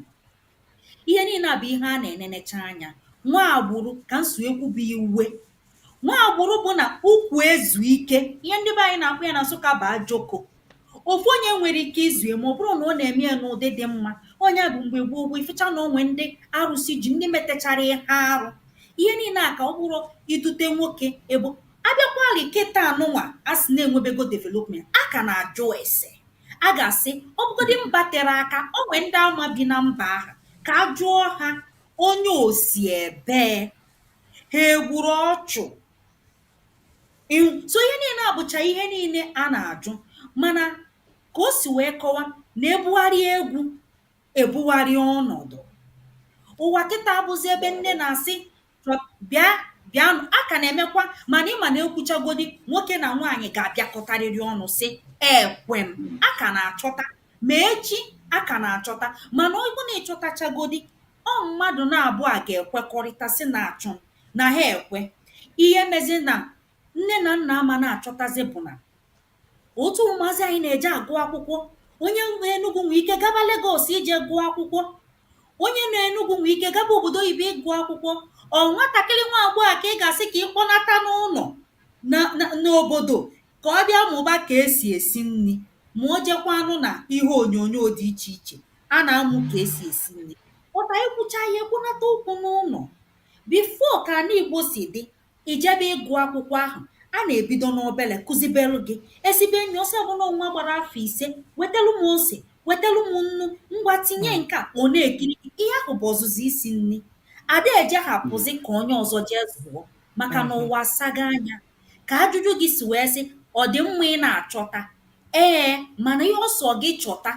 Ihe niile a bụ ihe a na-enenecha anya. Nwee agbụrụ ka m si wee kwuba ya uwe. Nwee agbụrụ bụ na ụkwụ ezu ike. Ihe ndị be anyị na-akpọ ya na Nsụka bụ ajoko. Ofu onye nwere ike izu ya ma ọ bụrụ na ọ na-eme ya n'ụdị dị mma. Ọ ya bụ mgbe gboo gboo, ị fụcha na o nwee ndị arụsị ji, ndị metechara ihe arụ. Ihe niile a ka ọ bụrụ idute nwoke ebe ọ. A bịakwarị kịta nụnwa a sị na-enwebego development, a ka na-ajụ ese. a ga-asị ọ bụgodị mba tere aka o nwee ndị a ma bi na mba ahụ ka a jụọ ha onye o si ebee ha egburu ọchụ so ihe niile abụcha ihe niile a na-ajụ mana ka o si wee kọwa na ebugharị egwu ebugharị ọnọdụ. Ụwa kịta abụzị ebe nne na-asị chọ bịa bịanụ. A ka na-emekwa mana ị ma na e kwuchagodị, nwoke na nwaanyị ga-abịakọtarịrị ọnụ sị, ekwe m. A ka na-achọta. Ma echi, a ka na-achọta. Mana ọ bụrụ na ị chọtachagodị, ọ mmadụ naabọ a ga-ekwekọrịta sị na achọ m, na ha ekwe. Ihe mezị na nne na nna ama na-achọtazị bụ na otu ụmụazị anyị na-eje agụ akwụkwọ onye nọ Enugu nwee ike gaba Lagos ije gụọ akwụkwọ onye nọ Enugu nwee ike gaba obodo oyibo ịgụ akwụkwọ ọ nwatakịrị nwa agbọghọ a ka ị ga-asị ka ị kpọnata n'ụlọ na- na- n'obodo ka ọ bịa mụba ka esi esi nri ma o jekwanụ na ihe onyonyo dị iche iche a na-amụ ka esi esi nri pụta e kwucha ihe kpọnata okwu n'ụlọ before ka ala igbo si dị I jebe ịgụ akwụkwọ ahụ, a na-ebido n'obere kụzibelụ gị. E sibe nri, ọ sị, ọ bụ na nwa gbara afọ ise, wetelụ m ose, wetelụ m nnu, ngwa tinye nke a, ọ na-ekiri gị. Ihe ahụ bụ ọzụzụ isi nri. A da eje hapụzị ka onye ọzọ jee zụọ maka na ụwa asago anya. Ka ajụjụ gị si wee sị, ọ dị mma ị na-achọta? Ee, mana ihe ọ sọ gị chọta,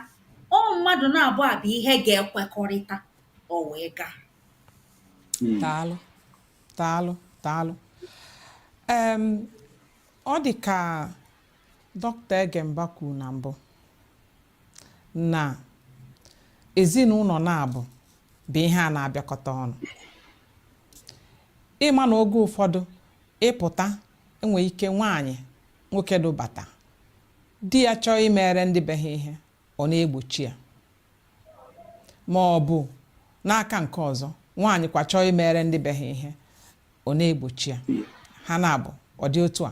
ọ mmadụ naabọ a bụ ihe ga-ekwekọrịta, o wee gaa. Daalụ. daalụ daalụ em ọ dị ka dọkịta egemba kwuru na mbụ na ezinụlọ naabụ bụ ihe a na-abịakọta ọnụ ị ma na oge ụfọdụ ị pụta e nwee ike nwaanyị nwoke dubata di ya chọọ imere ndị be ha ihe ọ na-egbochi ya ma ọ bụ n'aka nke ọzọ nwaanyị kwa chọọ imere ndị be ha ihe ọ na-egbochi ya ha naabụ ọ dị otu a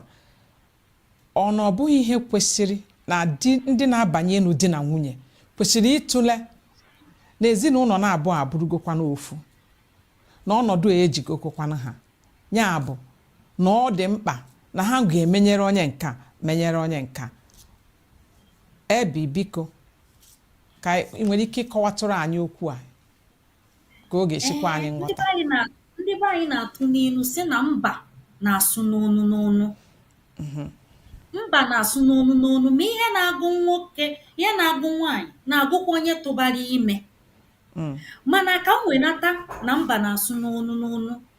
ọ na ọ bụghị ihe kwesịrị na di ndị na-abanye ịlụ di na nwunye kwesịrị ịtụle na ezinụlọ naabụ abụrụgokwanụ ofu na ọnọdụ a ejigokokwana ha ya bụ na ọ dị mkpa na ha ga-emenyere onye nka menyere onye nka ebi biko ka ị nwere ike ịkọwatụrụ anyị okwu a ka ọ ga-esi kwe anyị Ee, ndị nghọta be anyị na- ndị be anyị na-atụ n'ilu sị na mba na-asụ n'onu n'onu mba na-asụ n'onu n'onu ma ihe na-agụ nwoke ihe na-agụ nwaanyị na-agụkwa onye tụbara ime Mm. mana ka m wenata na mba na-asụ n'onu n'onu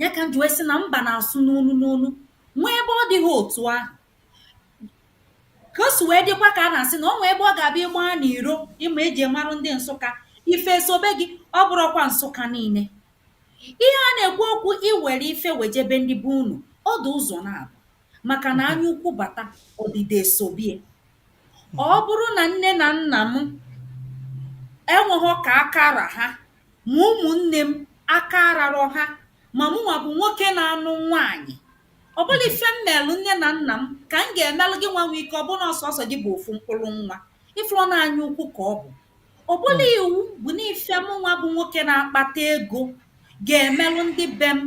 ya ka m ji wee sị na mba na-asụ n'onu n'onu nwee ebe ọ dịghị otu ahụ ka o si wee dịkwa ka a na-asị na o nwee ebe ọ ga-abịa ịgba na iro ịma e ji marụ ndị nsụka ife esobe gị ọ bụrụkwa nsụka niile ihe a na-ekwu okwu i were ife wejebe ndị be unu ọ dị ụzọ naabụ maka na anya ukwu bata, ọdịda esobie. Ọ bụrụ na nne na nna m enweghọ ka aka ra ha, ma ụmụnne m aka ararọ ha, ma mụnwa bụ nwoke na-anụ nwaanyị, ọ bụlụ ife m meelụ nne na nna m ka m ga-emelụ gịnwa nwee ike ọ bụrụ na ọ sọsọ gị bụ ofu mkpụlụ nwa. Ị fụrọ na anya ukwu ka ọ bụ. Ọ bụlụ iwu bụ na ife mụnwa bụ nwoke na-akpata ego ga-emelụ ndị be m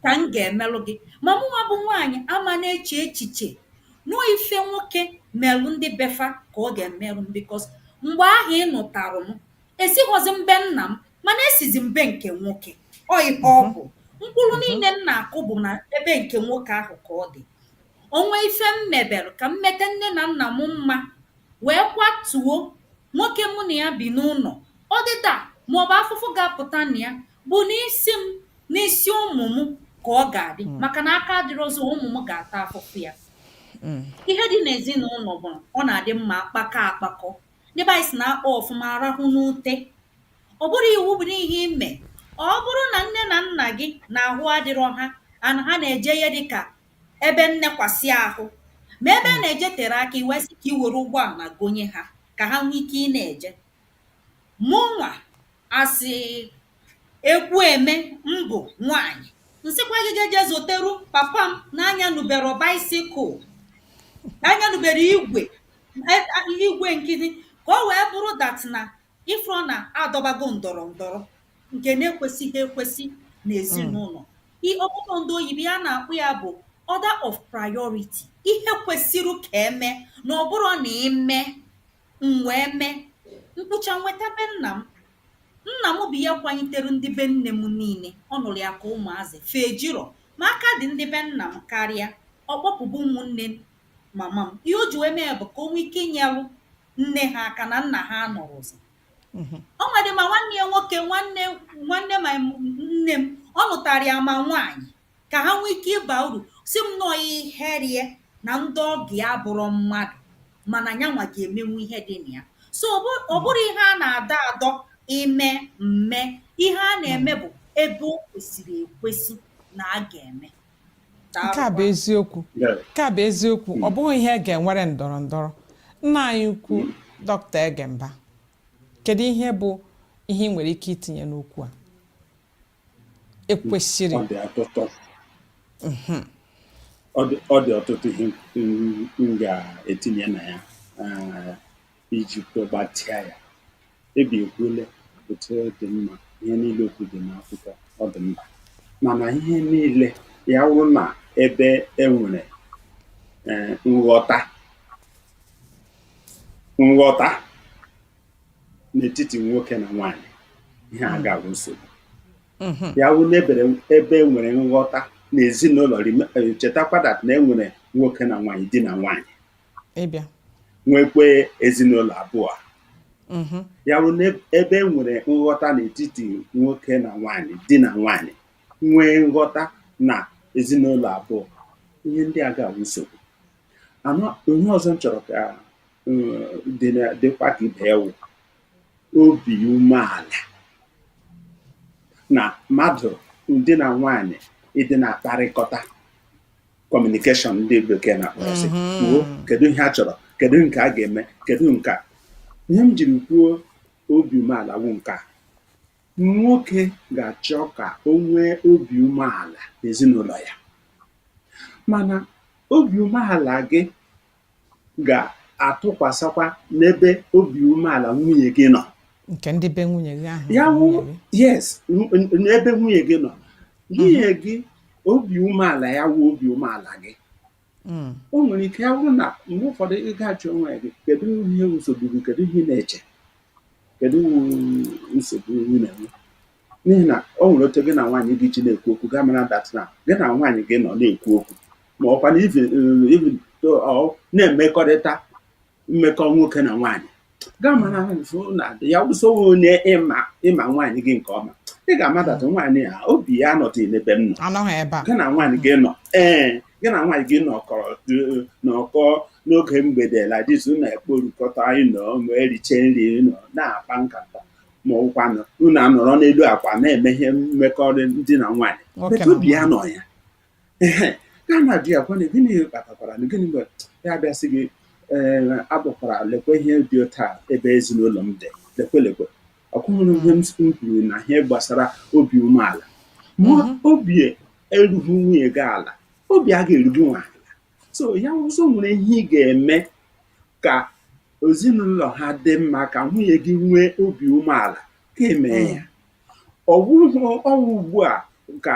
ka m ga-emelụ gị? Ma mụnwa bụ nwaanyị ama na-eche echiche na ọ ife nwoke melụ ndị be fa ka ọ ga-emelụ m because mgbe ahụ ị nụtarụ m, esighọzi m be nna m mana esizi m be nke nwoke. Ọ ife ọ bụ. Mkpụrụ niile m na-akụ bụ na ebe nke nwoke ahụ ka ọ dị. O nwee ife m mebelụ, ka m meta nne na nna m mma. wee kwatuo nwoke mụ na ya bi n'ụlọ ọdịda maọbụ afụfụ ga-apụta na ya bụ n'isi m n'isi ụmụ m ka ọ ga-adị maka na aka adịrọzi ụmụ m ga-ata afụfụ ya ihe dị n'ezinụlọ bụ ọ na-adị mma a kpakọọ akpakọ ndị be anyị sị na a kpaa ọfụma a rahụ n'ute ọ bụrụ iwu bụ na ihe i me ọ bụrụ na nne na nna gị na ahụ adịrọ ha ana ha na-eje ihe dịka ebe nnekwasị ahụ ma ebe a hmm. na-eje tere aka i wee sị ka i were ụgbọala gonye ha ka ha nwee ike ịna-eje mụnwa asị ekwu eme m bụ nwanyị ị sịkwa gị ga-eje zụtere papa m na-anyanubero baisikụl na-anyanubero igwe e, igwe nkịtị ka o wee bụrụ dat na ị fụrụ na a dọbago ndọrọ ndọrọ nke na-ekwesịghị ekwesị n'ezinụlọ I- ọ bụrụ na ndị oyibo ya na-akpọ ya bụ order of priority ihe kwesịrị ka e mee na ọ bụrụ na ime m wee mee mkpụcha nweta be nna m nna m bụ ya kwanyitere ndị be nne m niile n'ọrụ aka ụmụazị fee jirọ ma aka dị ndị be nna m karịa ọ kpọpụ bụ ụmụnne mama m ihe o ji wee mee bụ ka o nwee ike inyelu nne ha aka na nna ha anọrọzi mhm. o nwedị ma nwanne ya nwoke nwanne nwanne ma nne m ọ nụtara ya ma nwaanyị ka ha nwee ike ịba uru si m nọọ ihe rie na ndị ọgọ ya bụrụ mmadụ mana nyanwa ga-emenwu ihe dị na ya so ọ mhm. bụrụ ihe a na-adọ adọ ime mme ihe a na-eme bụ ebe o kwesịrị ekwesị na a ga-eme nke a bụ eziokwu nke a bụ eziokwu ọ bụghị ihe e ga-enwere ndọrọ ndọrọ nna anyị ukwu dọkịta Egemba kedu ihe bụ ihe ị nwere ike itinye n'okwu a e kwusịrị ọ dị ọtụtụ ihe m ga-etinye na ya iji kwugbatịa ya ebi ekwuole otu ọ dị mma ihe niile okwu dị n'akwụkwọ ọ dị mma mana ihe niile ya wụrụ na ebe e nwere ee, nghọta nghọta n'etiti nwoke na nwaanyị ihe a agaghị abụ nsogbu ya wụrụ na ebe e nwere nghọta n'ezinụlọ rime- eh, chetakwa dat na e nwere nwoke na nwaanyị di na nwaanyị ị bịa nwekwee ezinụlọ abụọ mhm. ya bụ n'ebe e nwere nghọta n'etiti nwoke na nwaanyị di na nwaanyị nwee nghọta na ezinụlọ abụọ ihe ndị a agaghị awụ nsogbu ihe ọzọ m chọrọ ka um, dịkwa ka ibe ya wụ obi umeala na mmadụ di na nwaanyị ịdị na-akparịkọta kọmunikeshọn ndị bekee na-akpọ ya sị mm-hmm. kwuo kedu ihe a chọrọ kedu nke a ga-eme kedu nke a ihe m jiri kwuo obi umeala wụ nke a nwoke ga-achọ ka o nwee obi umeala n'ezinụlọ ya mana obi umeala gị ga-atụkwasakwa n'ebe obi umeala nwunye gị nọ nke ndị be nwunye gị ahụ ya wụ nwunye gị. yes n- n- n'ebe nwunye gị nọ nwunye gị obi umeala ya wụ obi umeala gị Mm, o nwere ike ya bụrụ na mgbe ụfọdụ ị ga-ajụ onwe gị kedu ihe nsogbu gị kedu ihe ị na-eche kedu nsogbu ị na-enwe n'ihi na o nwere otu gị na nwaanyị gị ji na-ekwu okwu ị ga-amara that na gị na nwaanyị gị nọ na-ekwu okwu ma ọkwanụ unu na-emekọrịta mmekọ nwoke na nwaanyị ị ga-ama na na ya wụ sị ọ wụ onye ịma ịma nwaanyị gị nke ọma ị ga-ama that nwaanyị a obi ya anọtụghị n'ebe m nọ anọghị ebe a gị na nwaanyị gị nọ ee gị na nwaanyị gị nọkọrọ eh, nọkọ n'oge mgbede like this unu ekporukọta anyị nọ ma eriche nri nọ na-akpa nkata ma ọkwanụ unu anọrọ n'elu akwa na-eme ihe mmekọ di na nwaanyị but obi ya nọ ya ya na di ya gwana gịnị kpatakwara na gịnị mere ya abịa sị gị ee akpọkwara lekwe ihe dị otu a ebe ezinụlọ m dị lekwe lekwe ọkụhụrụ ihe m kwuru na ihe gbasara obi umeala ma mhm. obi erughị nwunye gị ala obi a ga-eru gịnwa ala so ya wụ sị o nwere ihe ị ga-eme ka ezinụlọ ha dị mma ka nwunye gị nwee obi umeala ka e mee ya mm. ọ bụrụ ọnwụ ugbu a ka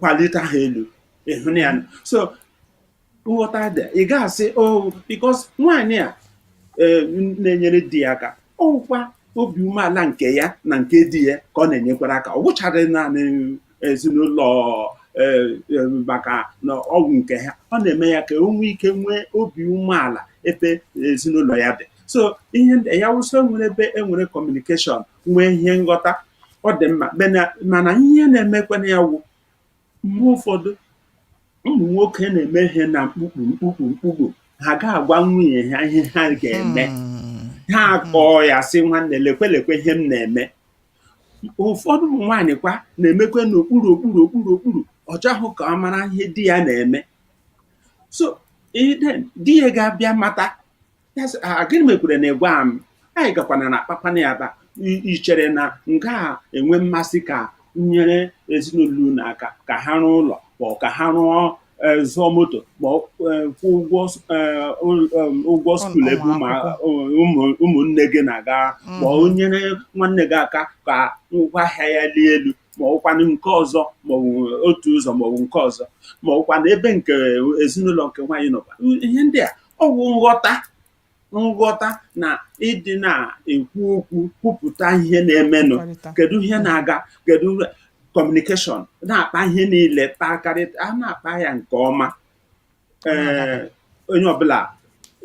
kwalite ha elu ị hụna ya nụ. so nghọta dị ị ga-asị o because nwaanyị a eh, na-enyere di ya aka ọ wụkwa obi umeala nke ya na nke di ya ka ọ na-enyekwara aka ọ bụchaghị naanị ezinụlọ eh, eh, maka na ọ wụ nke ha ọ na-eme ya ka o nwee ike nwee obi umeala ebe ezinụlọ ya dị so ihe ndị a ya wụ sị e nwere ebe e nwere communication nwee ihe nghọta ọ dị mma mana- mana ihe na-emekwanụ ya wụ mgbe ụfọdụ ụmụ nwoke na-eme ihe na mkpukpu mkpukpu mkpukpu ha ga-agwa nwunye ha ihe ha ga-eme Hmm. ha akpọọ ya sị nwanne lekwe lekwe ihe m na-eme ụfọdụ ụmụ nwaanyị kwa na-emekwe n'okpuru okpuru okpuru okpuru ọ chọghị ka ọ mara ihe di ya na-eme so then di ya ga-abịa mata ya sị "Ah, gịnị mekwere na ị gwa m anyị gakwana na akpakwana ya aba I- i chere na m gaghị enwe mmasị ka m nyere ezinụlọ unu aka ka ha rụọ ụlọ ma ọ ka ha rụọ eh, zụọ moto ma ọ eh, kwụọ ụgwọ s- eh, ụl- em, ụgwọ Ụl- school ebe ụmụ ụmụ- akwụkwọ. ụmụ- ụmụnne gị na-aga ma ọ Mhm. nyere nwanne gị aka ka ngwa ahịa ya lie elu ma ọkwanụ nke ọzọ ma ọ bụ otu ụzọ ma ọ bụ nke ọzọ ma ọkwanụ ebe nke ezinụlọ nke nwaanyị nọkwa ihe ndị a ọ wụ nghọta nghọta na ịdị na-ekwu okwu kwupụta ihe na-emenụ Kọrịta. kedu ihe na-aga kedu communication na-akpa ihe niile kpakọrịta a na-akpa ya nke ọma ee onye ọbụla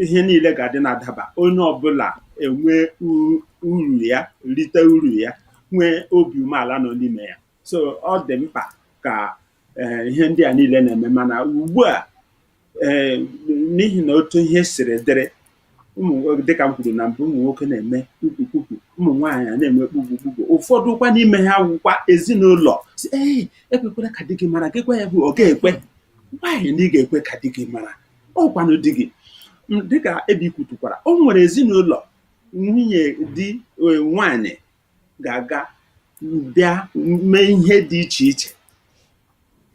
ihe niile ga-adị na-adaba onye ọbụla enwe u- uru ya rite uru ya nwee obi umeala nọ n'ime ya so ọ dị mkpa ka eh, ihe ndị a niile na-eme mana ugbu a eh, n'ihi na otu ihe siri dịrị ụmụ dịka m kwuru na mbụ ụmụ nwoke na-eme kpukpukpukpu ụmụ nwaanyị a na-eme kpukpukpukpu ụfọdụ kwa n'ime ha wụkwa ezinụlọ sị ee ekwekwala ka di gị mara gị gwa ya bụ ọ ga-ekwe nwaanyị na ị ga-ekwe ka di gị mara ọkwanụ di gị dịka Ebi kwutukwara o nwere ezinụlọ nwunye di e, nwaanyị ga-aga bịa mee ihe dị iche iche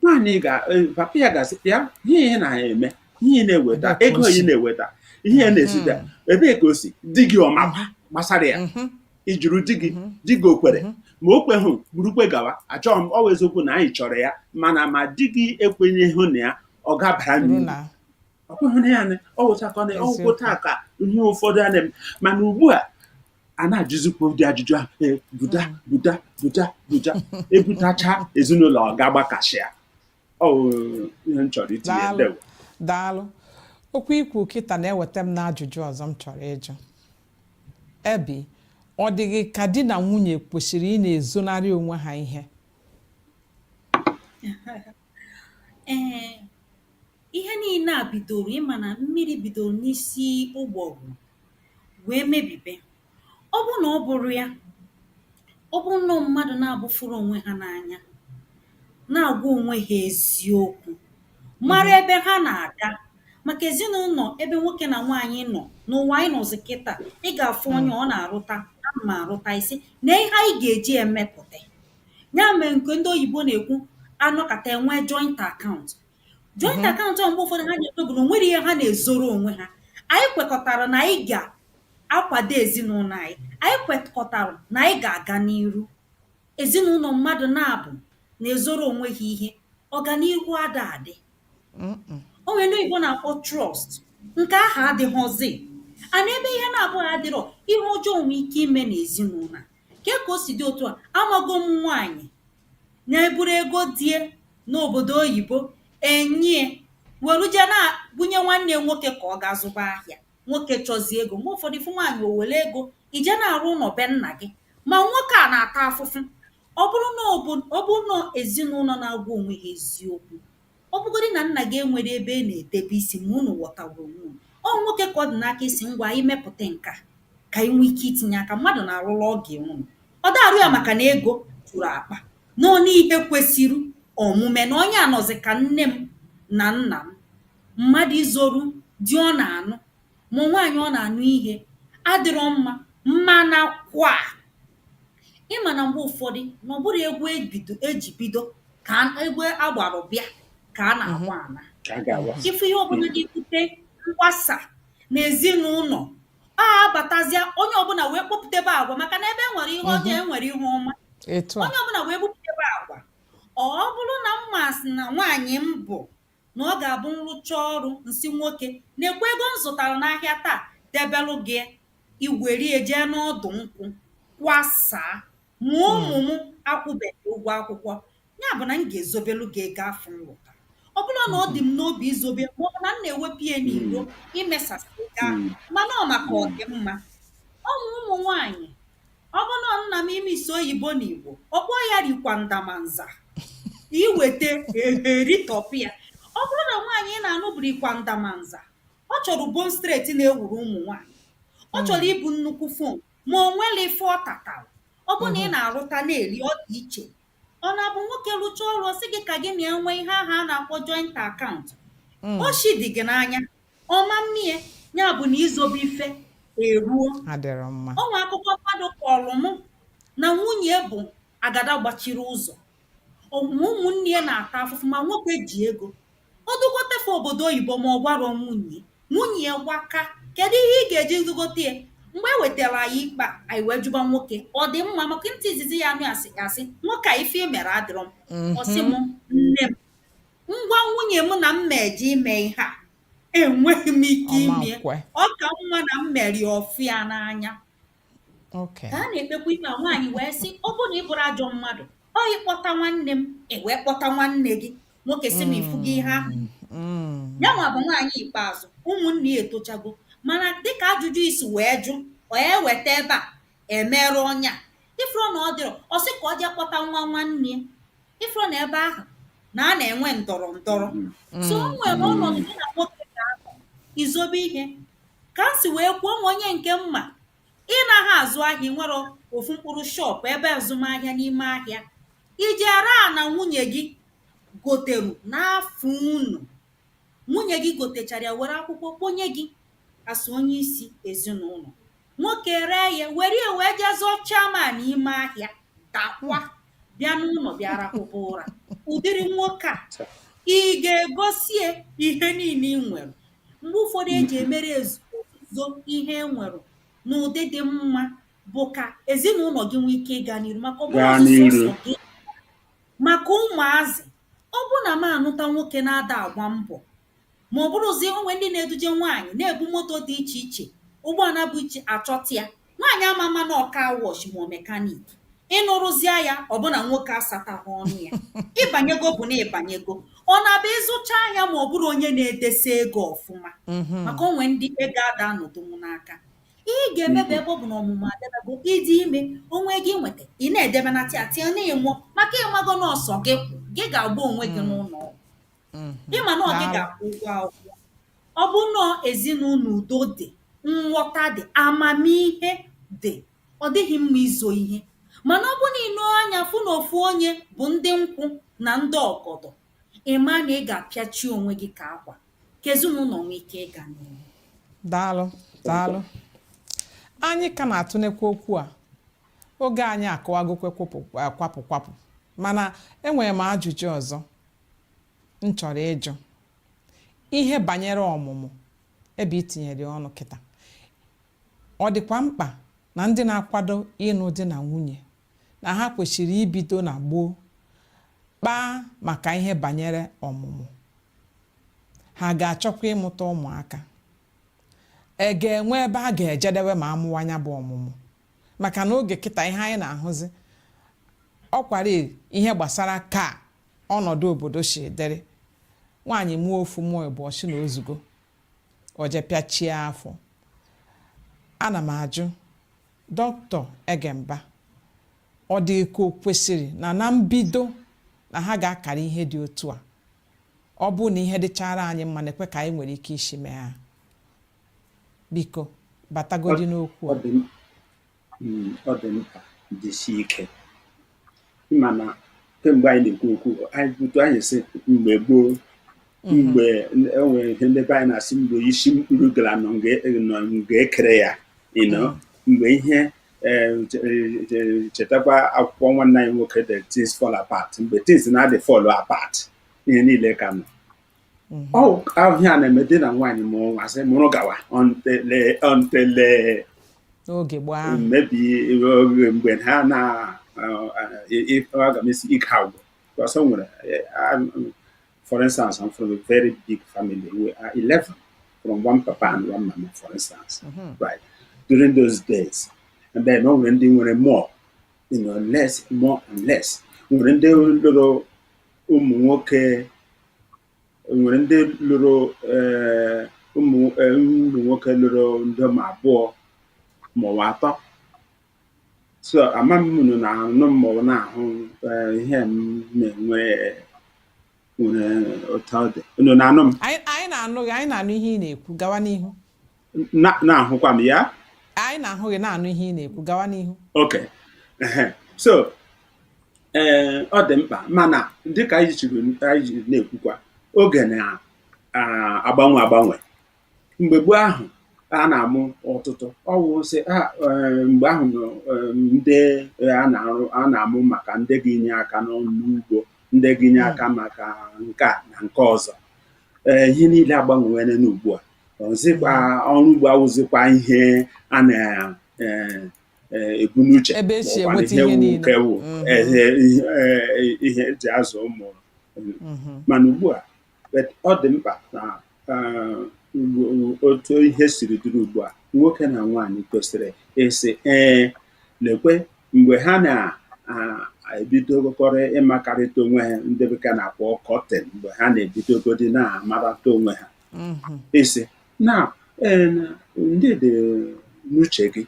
nwaanyị ga e, papa ya ga-asị ya ihe ị na-eme ihe ị na-eweta ego ị na-eweta ihe ị na-ezita mhm. ebee ka o si di gị ọ makwa gbasara ya mhm. ị jụrụ di gị mhm. di gị o kwere ma o kweghị burukwe gawa achọghị m ọ wụ eziokwu na anyị chọrọ ya mana ma di gị ekwenyeghị na ya ọ gabara n'uru ọ kweghị na ya ọ wụchakọ na ọgwụgwụ taa ka ihe ụfọdụ a na-eme mana ugbu a a na-ajụzikwa ụdị ajụjụ ahụ ee buda buda buda buda ebutacha ezinụlọ ọ ga-agbakashịa ọ bụ ihe m chọrọ itinye Daalụ. ndewo daalụ okwu i kwuru kịta na-eweta m n'ajụjụ ọzọ m chọrọ ịjụ Ebi ọ dị gị ka di na nwunye kwesịrị ịna-ezonarị onwe ha ihe ee Ihe niile a bidoro ị ma na mmiri bidoro n'isi mgbọrọgwụ wee mebibe. Ọ bụrụ na ọ bụrụ ya, ọ bụrụ nnọọ mmadụ naabọ fụrụ onwe ha n'anya, na-agwa onwe ha eziokwu, mara ebe ha na-aga. Maka ezinụlọ ebe nwoke na nwaanyị nọ, n'ụwa anyị nọzi kịta, ị ga-afụ onye ọ na-arụta, ana m arụta, ị sị, lee ihe anyị ga-eji ya mepụta. Ya mere nke ndị oyibo na-ekwu anọkata enwee joint account. joint mm-hmm. account mgbe ụfọdụ ha na-ekwe bụ na o nwere ihe ha na-ezoro onwe ha anyị kwekọtara na anyị ga-akwado ezinụlọ anyị anyị kwekọtara na anyị ga-aga n'iru ezinụlọ mmadụ naabọ na-ezoro onwe ha ihe ọganihu ada adị o nwere ndị oyibo na-akpọ trust nke aha adịghịzi and ebe ihe naabọ aha adịrọ ihe ọjọọ nwee ike ime n'ezinụlọ ke ka o si dị otu a amago m nwaanyị na-eburu ego di e n'obodo oyibo enye e welu je na-ebunye nwanne nwoke ka ọ gaa zụba ahịa nwoke chọzie ego mgbe ụfọdụ ị fụ nwaanyị o were ego jee na-arụ ụlọ be nna gị ma nwoke a na-ata afụfụ ọ bụrụ na ọ bụ ọ bụrụ na ezinụlọ na-agwa onwe ha eziokwu Ọ bụgodị na nna gị enwerọ ebe ọ na-edebe isi ma unu ghọtawa onwe unu, ọ nwoke ka ọ dị n'aka ịsị, Ngwa, anyị mepụta nke a ka anyị nwee ike itinye aka. Mmadụ na-arụrụ ọgọ ya ụlọ. Ọ da-arụ ya maka na ego juru akpa. Na ọ na ihe kwesiri omume na onye a nọzị ka nne m na nna m. Mmadụ izoru di ọ na-anụ ma ọ nwaanyị ọ na-anụ ihe adịrọ mma. Mana kwa, ị ma na mgbe ụfọdụ na ọ bụrọ egwu ebido e ji bido ka a- egwu a gbara bịa ka a na-agba ana ka a ga-agwa ife ihe ọbụla ga-ebute mgbasa na ezinụlọ a abatazịa onye ọbụla wee kpọpụtebe agwa maka na ebe e nwere ihe ọjọọ e nwere ihe ọma etu a onye ọbụla wee bupụtebe agwa ọ bụrụ na m ma sị na nwaanyị m bụ na ọ ga-abụ m rụchaa ọrụ, m sị nwoke, Nekwa ego m zụtara n'ahịa taa, debelụ gị ya. I were ya jee n'ọdụ nkwụ, kwasaa. Ma ụmụ m akwụberọ ụgwọ akwụkwọ. Ya bụ na m ga-ezobelụ gị ego afụ m rụtara. Ọ bụrụ na ọ dị m n'obi izobe ya maọbụ na m na-ewepụ ya n'iro imesasị ego ahụ, mana ọ maka ọdịmma. Ọ ma ụmụ nwaanyị. Ọ bụ na ọ nna m ime ịsụ oyibo n'Igbo, ọ kpọọ ya rikwa ndamanza. I weta e ritọpịa. Ọ bụrụ na nwaanyị ị na-anụ bụ rikwa ndamanza, ọ chọrọ bone straight na-ewuru ụmụ nwaanyị. Ọ chọrọ ibu nnukwu phone ma o nwere ife ọ tatara. Ọ bụ na ị na-arụta na-eri ọ dị iche. Ọ na-abụ nwoke rụchaa ọrụ ọ sị gị ka gị na ya nwee ihe ahụ a na-akpọ joint account. Oshi dị gị n'anya ọ ma mmie ya bụ na izobe ife eruo adịrọ mma o nwe akụkọ mmadụ kọrọ m na nwunye bụ agada gbachiri ụzọ ụmụ ụmụnne ya na-ata afụfụ ma nwoke ji ego o dugote fa obodo oyibo ma ọ gwarọ nwunye nwunye ya gbaka kedu ihe ị ga-eji zụgote ya mgbe e wetara anyị ikpe a anyị wee jụba nwoke ọ dị mma maka ntị izizi ya anụ a sị a sị nwoke a ife i mere adịrọ mma ọ sị m nne m m gwa nwunye m na m na-eje ime ihe a enweghị m ike ime ya ọ ka mma na m mere ọ fụ ya n'anya ka a na-ekpekwa ime a nwaanyị wee sị ọ bụrụ na ị bụrọ ajọ mmadụ ọ na ị kpọta nwanne m i wee kpọta nwanne gị nwoke si na ị fụgo ihe ahụ mm. ya nwa bụ nwaanyị ikpeazụ ụmụnne ya etochago mana dịka ajụjụ i si wee jụ ọ ya eweta ebe a emerụ ọnya ị fụrụ na ọ dịrọ ọ sị ka o jee kpọta nwa nwanne ya ị fụrụ na ebe ahụ na a na-enwe ndọrọ ndọrọ so o nwere ọnọdụ gị na nwoke ga-anọ izobe ihe ka m si wee kwuo o nwe onye nke m ma ị naghị azụ ahịa ị nwere ofu mkpụrụ shop ebe azụmahịa n'ime ahịa iji ara a na nwunye gị goteru n'afa unu nwunye gị gotechara ya were akwụkwọ kponye gị as onye isi ezinụlọ nwoke ree ihe were ya wee jee zọọ chairman ime ahịa daakwa bịa n'ụlọ bịa rahụba ụra ụdịrị nwoke a ị ga-egosi ya ihe niile i nwere mgbe ụfọdụ eji emere ezuzo ihe e nwere n'ụdị dị mma bụ ka ezinụlọ gị nwee ike ịga n'iru maka ọ bụrụ Gaa ọsụsọ n'iru. ụzọ gị maka ụmụazị ọ bụ na m anụta nwoke na-ada agba mbọ ma ọ bụrụzie o nwe ndị na-eduje nwaanyị na-ebu moto dị iche iche ụgbọala bụ iche achọta ya nwaanyị ama ama na ọ car wash ma ọ mechanic ị nụrụzia ya ọ bụ na nwoke asatahụ ọnụ ya ị banyego bụ na ị banyego ọ na-abụ ị zụchaa ahịa ma ọ bụrụ onye na-edesa ego ọfụma mhm. maka o nwe ndị ego ada anọdụnwu n'aka ihe ị ga-eme bụ ebe ọ bụ na ọmụmụ adebe bụ ịdị ime onwe gị nweta ị na-edebe na tịa tịa na-ịmụ maka ị mago n'ọsọ gị gị ga-agba onwe gị mm. n'ụlọ mm-hmm. ị ma na ọ gị ga-akwụ ụgwọ akwụkwọ ọ bụ na ọ ezinụlọ udo dị nghọta dị amamihe dị ọ dịghị mma izo ihe mana ọ bụ na i nee anya fụ na ofu onye bụ ndị nkwụ na ndị ọgọdọ ị ma na ị ga-apịachi onwe gị ka akwa ka ezinụlọ nwee ike ịga n'ihu daalụ daalụ anyị ka na-atụnekwa okwu a oge anyị akụwagokwe kwapụ kwapụ mana enwere m ajụjụ ọzọ m chọrọ ịjụ ihe banyere ọmụmụ ebe i tinyere ọnụ kịta ọ dịkwa mkpa na ndị na-akwado ịnụ di na nwunye na ha kwesịrị ibido na gboo kpaa maka ihe banyere ọmụmụ ha ga-achọkwa ịmụta ụmụaka e ga-enwe ebe a ga-ejedewe ma a mụwa nya bụ ọmụmụ maka na oge kịta ihe anyị na-ahụzi ọkwara ihe gbasara ka ọnọdụ obodo si dịrị nwaanyị mụọ ofu mụọ ịbụọ ọ sị na o zugo o jee pịachie afọ ana m ajụ dọkịta Egemba ọ dị ka o kwesịrị na na mbido na ha ga-akara ihe dị otu a ọ bụ na ihe dịchara anyị mma na-ekwe ka anyị nwere ike isi mee ha biko batagodi n'okwu a Hmm, ọ dị mkpa dịsi ike ị ma na kemgbe anyị na-ekwu okwu anyị butu anyị sị mgbe gboo mhm. mgbe e nwere ihe ndị be anyị na-asị mgbe isi mkpụrụ gala nọ nga e kere ya ịnọ mhm. mgbe ihe eh, chetakwa akwụkwọ nwanne anyị nwoke the things fall apart mgbe things na-adị fall apart ihe niile ka nọ mhm. ọ ihe a na-eme dị na nwaanyị mụọ nwa sị mụrụ gawa until until oge gbaa maybe oge mgbe ha na aga m asị ike agwụ because o nwere for instance I'm from a very big family we are 11 from one papa and one mama for instance mhm. right during those days and then o nwere ndị nwere more you know less more and less nwere ndị lụrụ ụmụ nwoke nwere ndị lụrụ eh, ụmụ eh, ụmụ nwoke lụrụ ndị ma abụọ maọbụ atọ so ama m unu na-anụ m maọbụ na-ahụ eh, ihe m na-enwe nwere otu ọ dị unu na-anụ m anyị anyị na-anụ gị anyị na-anụ ihe ị na-ekwu gawa n'ihu Na- na-ahụkwa m ya anyị na-ahụ gị na-anụ ihe ị na-ekwu gawa n'ihu ok ehe. so ee ọ dị mkpa mana dịka anyị jiri anyị ji na-ekwukwa oge na-agbanwe agbanwe mgbe gboo ahụ a na-amụ ọtụtụ ọwụ sị a ee, mgbe ahụ ee, ndị ee, a na-arụ a na-amụ maka ndị ga-enye aka n'ọrụ ugbo ndị ga-enye aka maka nke a na nke ọzọ ee ihe niile agbanwewere n'ugbu a ọzịkwa ọrụ ugbo awụzikwa ihe a na eh, eh, ebu n'uche Ebe e si maọbụ enweta ihe ihe wu niile. nke wu Mhm. eh, ihe eh, ihe e ji azụ ụmụ Mhm. mana ugbu a but ọ dị mkpa na eh, ugbo- otu ihe siri dịrị ugbu a nwoke na nwaanyị kwesịrị ịsị ee lekwe mgbe ha na-ebidokọrọ ịmakarịta onwe ha ndị bekee na-akpọ courting mgbe ha na-ebidogodi na-amarata onwe ha mm-hmm. ịsị na eh, ndị dị n'uche gị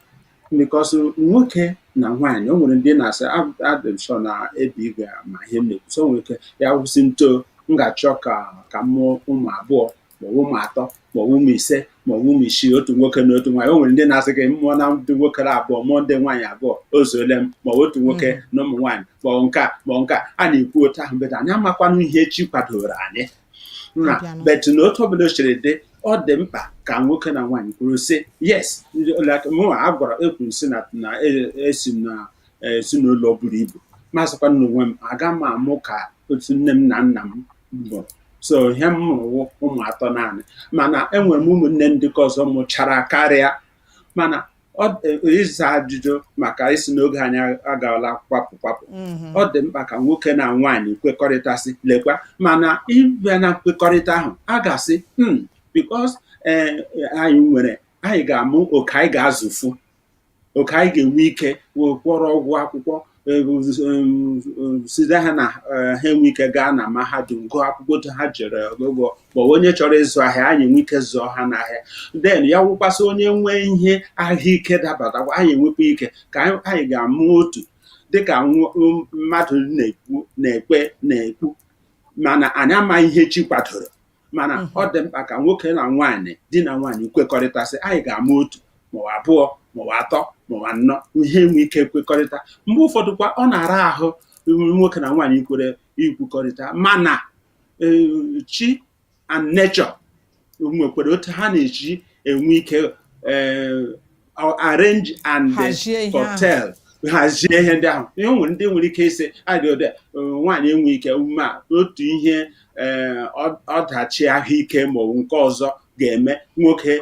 because nwoke na nwaanyị o nwere ndị na-asị adị m sọ na ebe igwe ma ihe m na-ekwusi o nwere ike ya wụ sị na otu m ga-achọ ka ka m mụọ ụmụ abụọ maọbụ ụmụ atọ maọbụ ụmụ ise maọbụ ụmụ isii otu nwoke na otu nwaanyị o nwere ndị na-asị gị m mụọ ndị nwoke abụọ mụọ ndị nwaanyị abụọ o zuole m maọbụ otu nwoke mm. na ụmụ nwaanyị maọbụ nke a maọbụ nke a a na-ekwu otu ahụ but anyị amakwanụ ihe Chi kwadoro anyị na-abịanụ. but na otu ọbụla o jiri dị ọ dị mkpa ka nwoke na nwaanyị kwuru sị yes like mụnwa agara ekwuru sị na na e- esi m na eh, ezinụlọ buru ibu ma sịkwanụ onwe m aga m amụ ka otu nne m na nna m mụrụ so ihe m mụrụ wụ ụmụ atọ naanị mana enwere m ụmụnne ndị ke ọzọ mụchara karịa mana ịza ajụjụ m ga-asị na oge anyị agaala kwapụ kwapụ mm-hmm. ọ dị mkpa ka nwoke na nwaanyị kwekọrịta sị lekwa mana ịbịa na nkwekọrịta ahụ a ga-asị hmm, because eh, anyị nwere anyị ga-amụ nke anyị ga-azụfu nke anyị ga-enwe ike wee kwụọrọ ụgwọ akwụkwọ site ha na ha enwe ike gaa na mahadum gụọ akwụkwọ otu ha jere ụgwọ ma onye chọrọ ịzụ ahịa anyị enwe ike zụọ ha n'ahịa then ya wụkwa sị onye nwee ihe ahụike dabatakwa anyị enwekwa ike ka anyị ga-amụ otu dịka mmadụ na-ekwu na-ekwe na-ekwu mana anyị amaghị ihe chi kwadoro mana mhm. ọ dị mkpa ka nwoke na nwaanyị di na nwaanyị kwekọrịta sị anyị ga-amụ otu maọbụ abụọ maọbụ atọ maọbụ anọ ihe enwe ike kwekọrịta mgbe ụfọdụ kwa ọ na-ara ahụ nwoke na nwaanyị ikwere ikwukọrịta mana e, chi and nature nwekwara otu ha na-eji enwe ike e, arrange and curtail hazie ihe ndị ahụ ihe o nwere ndị nwere ike ịsị adịode e, nwaanyị enwe ike ịmụ otu ihe e, ọdachi ahụike ma ọ bụ nke ọzọ ga-eme nwoke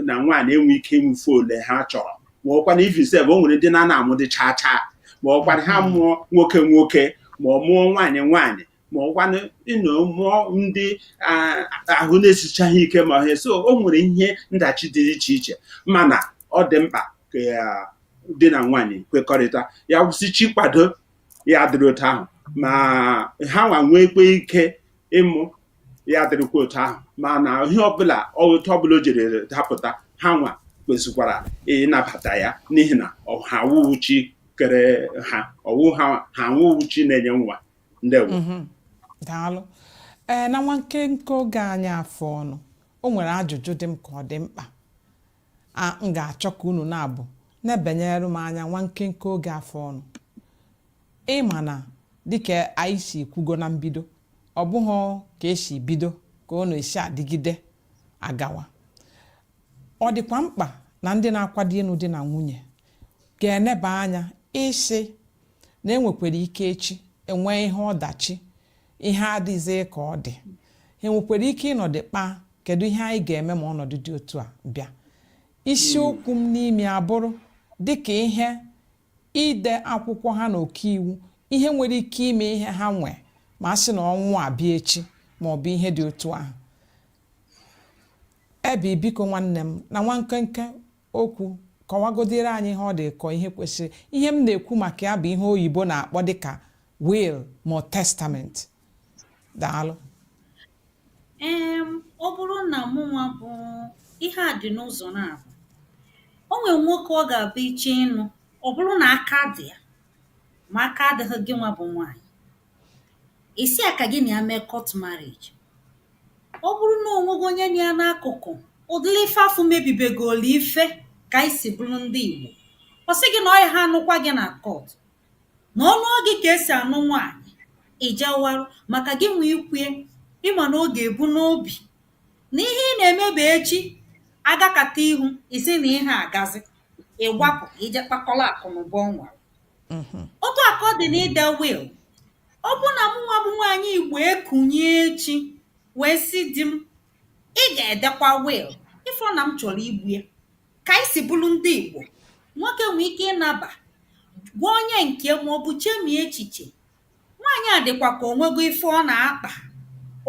na nwaanyị enwe ike ịmụfe ole ha chọrọ ma ọkwana even sef o nwere ndị na-ana amụdị chaa chaa ma ọkwana ha mụọ nwoke nwoke ma ọ mụọ nwaanyị nwaanyị ma ọkwanụ ịnọ mụọ ndị a- ahụ na-esichaghị ike ma ihe so o nwere ihe ndachi dị iche iche mana ọ dị mkpa ka ya di na nwaanyị kwekọrịta ya wụ sị chi kwado ya dịrị otu ahụ ma ha nwa nwekwa ike ịmụ ya dịrịkwa otu ahụ mana ihe ọbụla otu ọbụla o jiri dapụta ha nwa kwesịkwara ịnabata ya n'ihi na ọ- ha awụghị chi kere ha ọ wụ ha ha awụghị chi na-enye nwa ndewo mhm. daalụ ee na nwa nkenke oge anyị a fọọnụ o nwere ajụjụ dị m ka ọ dị mkpa m ga-achọ ka unu naabụ nebanyere m anya nwa nkenke oge a fọọnụ ị ma na dịka anyị si kwugo na mbido ọ bụghị ka e si bido ka ọ na-esi adịgide agawa ọ dịkwa mkpa na ndị na-akwado ịnụ di na nwunye ga-eneba anya ịsị na e nwekwara ike echi e nwee ihe ọdachi ihe adịghịzi ka ọ dị ha enwekwara ike ịnọdụ kpaa kedu ihe anyị ga-eme ma ọnọdụ dị otu a bịa isiokwu m n'ime abụrụ dịka ihe ide akwụkwọ ha na ọkaiwu ihe e nwere ike ime ihe ha nwee ma a sị na ọnwụ abịa echi ma ọ bụ ihe dị otu ahụ ebe biko nwanne m na nwa nkenke okwu kọwagodịrị anyị ihe ọ dị ka ihe kwesịrị ihe m na-ekwu maka ya bụ ihe oyibo na-akpọ dịka will ma testament daalụ ee ọ bụrụ na mụnwa bụ ihe a dị n'ụzọ naabụ o nwere nwoke ọ ga-abụ i jee ịnụ ọ bụrụ na aka dị ya ma aka adịghị gị nwa bụ nwaanyị ị sị ya ka gị na ya mee court marriage ọ bụrụ na o nwego onye nọ ya n'akụkụ ụdịrị ife afụ mebibegoro ife ka anyị si bụrụ ndị Igbo ọ sị gị na ọ ya ha anụkwa gị na court na ọ nụọ gị ka esi anụ nwaanyị ị jewara maka gịnwa i kwue ị ma na ọ ga-ebu n'obi na ihe ị na-eme bụ echi agakata ihu ị sị na ihe agazị ị gbapụ ka i je kpakọrọ akụnụba o nwere mhm. otu a ka ọ dị na ide will ọ bụ na mụnwa bụ nwaanyị igbo ekunie echi wee sị di m ị ga-edekwa will ị fụ na m chọrọ igbu ya ka anyị si bụrụ ndị igbo nwoke nwee ike ịnaba gwa onye nke ma ọ bụ chemie echiche Nwaanyị a dịkwa ka o nwego ife ọ na-akpa.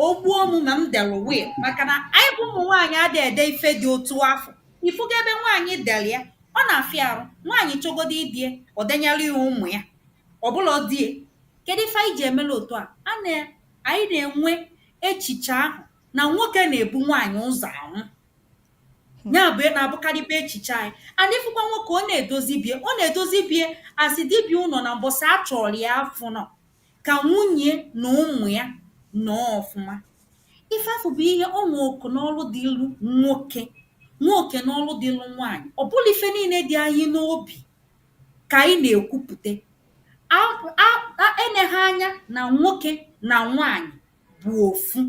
O gbuo mụ ma m delụ will maka na anyị bụ ụmụ nwaanyị ada ede ife dị otu afụ. Ị fụgo ebe nwaanyị dere ya, ọ na-afịa arụ. Nwaanyị chọgodu ide ya, o denyelụ ya ụmụ ya. Ọ bụlọ di ya. Kedụ ife anyị ji emelụ otu a? Ọ na anyị na-enwe echiche ahụ na nwoke na-ebu nwaanyị ụzọ anwụ. Hmm. ya bụ ihe na-abụkarịba echiche anyị mana ị fụkwa nwoke ọ na-edozi be ya ọ na-edozi be ya a sị dibiụlọ na mbọsị a chọrọ ya afụrọ ka nwunye ya na ụmụ ya nọọ ọfụma ife afụ bụ ihe o nwe oke na ọrụ dịlụ nwoke nwe oke na ọrụ dịlụ nwaanyị ọ bụlọ ife niile dị anyị n'obi ka anyị na-ekwupụta eneghị anya na nwoke na nwaanyị bụ ofu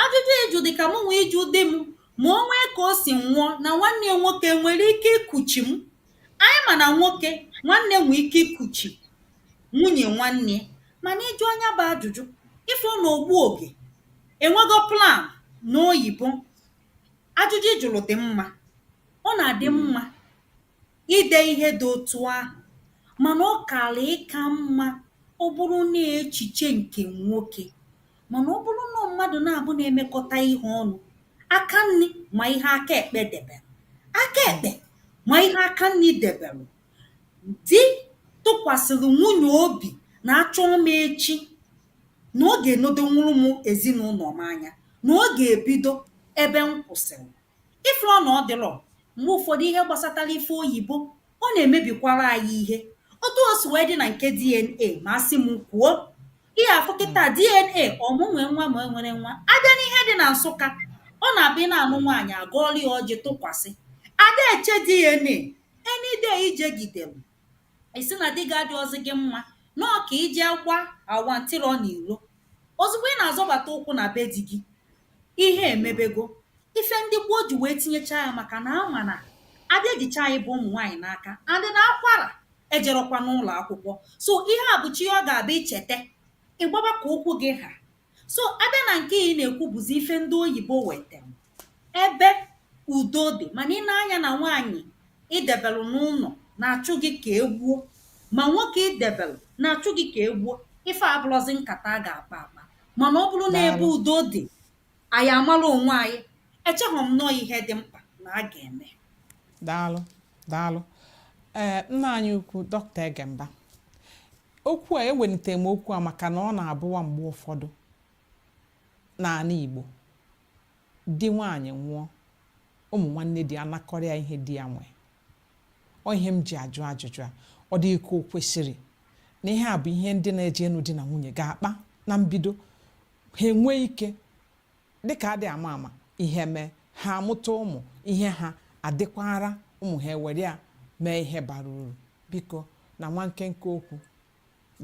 Ajụjụ ị jụ dị ka mụnwa ịjụ di m ma o nwee ka o si nwụọ na nwanne ya nwoke nwere ike ikuchi m. Anyị ma na nwoke nwanne nwee ike ikuchi nwunye nwanne ya mana ị jụọ ya bụ ajụjụ ị fụ na ogbu oge enwego plan n'oyibo. Ajụjụ ị jụrụ dị mma. Ọ na-adị mma. ide ihe dị otu ahụ mana ọ kara ịka mma ọ bụrụ na ọ echiche nke nwoke mana ọ bụrụ na ọ mmadụ naabọ na-emekọta ihe ọnụ aka nri ma ihe aka ekpe debere aka ekpe ma ihe aka nri debere di tụkwasịrị nwunye obi na a chọọ m echi na ọ ga-enedonwuru m ezinaụlọ m anya na ọ ga-ebido ebe m kwụsịrị Ị fụrọ na ọ dịrọ mgbe ụfọdụ ihe gbasatara ife oyibo, ọ na-emebikwara anyị ihe. Otu o si wee dị na nke DNA ma a sị m kwuo, ị ga-afụ kịta DNA ọ mụ nwe nwa ma e nwere nwa. A bịa n'ihe dị na Nsụka, ọ na-abụ ị na-anụ nwaanyị, a gọọrọ ya ọjị tụkwasị. Ada eche DNA, any day i jegidere, ị sị na di gị adịọzi gị mma nọọ ka i je gba awa ntịrọ n'iro ozugbo ị na-azọbata ụkwụ na be di gị ihe emebego ife ndị gboo ji wee tinyecha ya maka na a ma na a da ejicha anyị bụ ụmụ nwaanyị n'aka and na akwara ejerọkwa n'ụlọ akwụkwọ so ihe a bụcha ihe ọ ga-abụ i cheta ị gbaba ka ụkwụ gị ha so a bịa na nke ị na-ekwu bụzi ife ndị oyibo wetem ebe udo dị mana ị nee anya na nwaanyị i debelụ n'ụnọ na-achụ gị ka e gbuo ma nwoke i debelụ na-achụ gị ka e gbuo ife abụrụzi nkata a ga-akpa akpa mana ọ bụrụ na ebe udo dị anyị amara onwe anyị echeghọ m na ọ ihe dị mkpa na a ga-eme daalụ daalụ ee nna anyị ukwu dọkịta Egemba okwu a ewelite m okwu a maka na ọ na-abụwa mgbe ụfọdụ n'ala Igbo di nwaanyị nwụọ ụmụ nwanne di anakọrịa ihe di ya nwee ọ ihe m ji ajụ ajụjụ a ọ dị ka o kwesịrị na ihe a bụ ihe ndị na-eje ịnụ di na nwunye ga-akpa na mbido ha enwee ike dịka adị ama ama ihe mee ha amụta ụmụ ihe ha adịkwara ụmụ ha ewere ya mee ihe bara uru biko na nwa nkenke okwu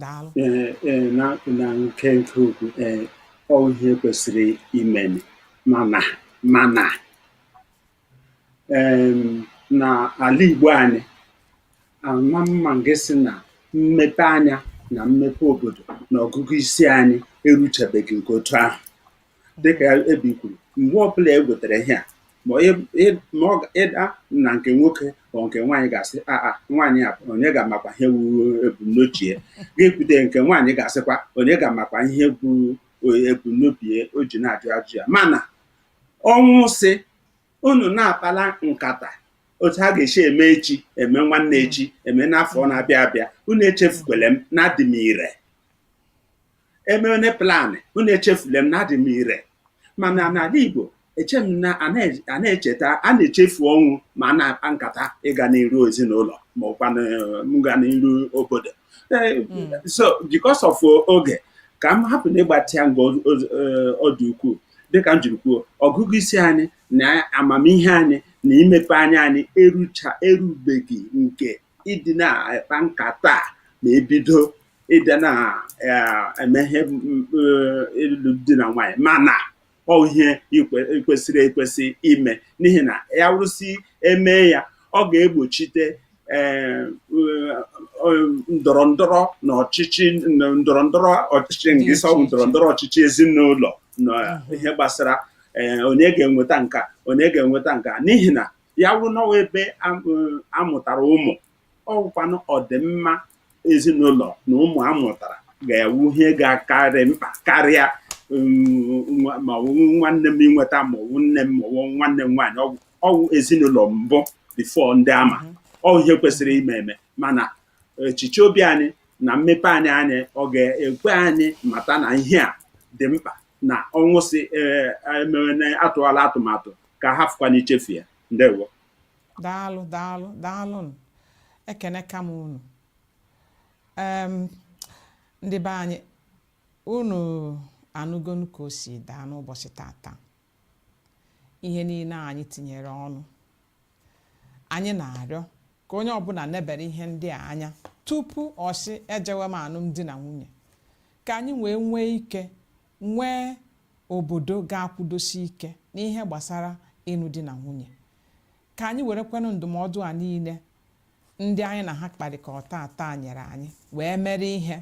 daalụ ee ee na na nkenke okwu ee ọ ihe kwesịrị imeni mana mana na ala Igbo anyị a nwa m ga-asị na mmepe anya na mmepe obodo na ọgụgụ isi anyị eruchabeghị nke otu ahụ dịka Ebi kwuru mgbe ọbụla e wetara ihe a either na nke nwoke or nke nwaanyị ga-asị aa nwaanyị a onye ga-amakwa ihe bụ ebumnobi ya ji ekwute nke nwaanyị ga-asịkwa onye ga-amakwa ihe bụ ebumnobi o ji na-ajụ ajụ ya mana Ọnwụ sị, unu na-akpala nkata otu a ga-esi eme echi eme nwanne hmm. echi eme n'afọ hmm. na-abịa abịa unu echefukwele m na adị m ire emene plan unu echefule m na adị m ire mana n'ala Igbo eche m na a na-echeta a na-echefu ọnwụ ma a na-akpa nkata ịga n'iru ezinụlọ ma ọkwa ịga n'iru obodo so because of oge ka m hapụ na ịgbatị ya nga ọ dị ukwuu dịka m jiri kwuo ọgụgụ isi anyị na amamihe anyị na imepe anya anyị erucha erubeghị nke ịdị na-akpa nkata ma e bido ịdị na-eme ihe ịlụ di na nwaanyị mana ọ wụ ihe kwesịrị ekwesị ime n'ihi na ya wụrụ sị e mee ya ọ ga-egbochite eh, ndọrọ ndọrọ na ọchịchị ndọrọ ndọrọ ọchịchị nke ịsọ ndọrọ ndọrọ ọchịchị ezinụlọ na mhm. ihe gbasara eh, onye ga-enweta nka onye ga-enweta nka n'ihi na ya wụrụ na ọ wụ ebe a mụtara ụmụ ọ wụkwanụ ọdịmma ezinụlọ na ụmụ a mụtara ga-awụ ihe ga-akarị mkpa karịa um, nwa- ma ọ wụ nwanne m inweta ma ọ wụ nne m ma ọ wụ nwanne m nwaanyị ọ wụ ọ wụ ezinụlọ mbụ before ndị ama ọ ihe kwesịrị ime eme mana echiche obi anyị na mmepe anya anyị ọ ga-ekwe anyị mata na ihe a dị mkpa na ọnwụ si emewe na atụwala atụmatụ ka hafụkwanụ ichefu ya ndewo daalụ daalụ daalụ ekenekwa m unu ndị be anyị unu anụgonụ ka o si daa n'ụbọsị tata ihe niile anyị tinyere ọnụ anyị na-arịọ ka onye ọbụla nebere ihe ndị a anya tupu ọ sị ejewe m alụmdi na nwunye ka anyị wee nwee ike nwee obodo ga-akwụdosi ike n'ihe gbasara ịnụ di na nwunye ka anyị werekwanụ ndụmọdụ a niile ndị anyị na ha kparịkọ tata nyere anyị wee mere ihe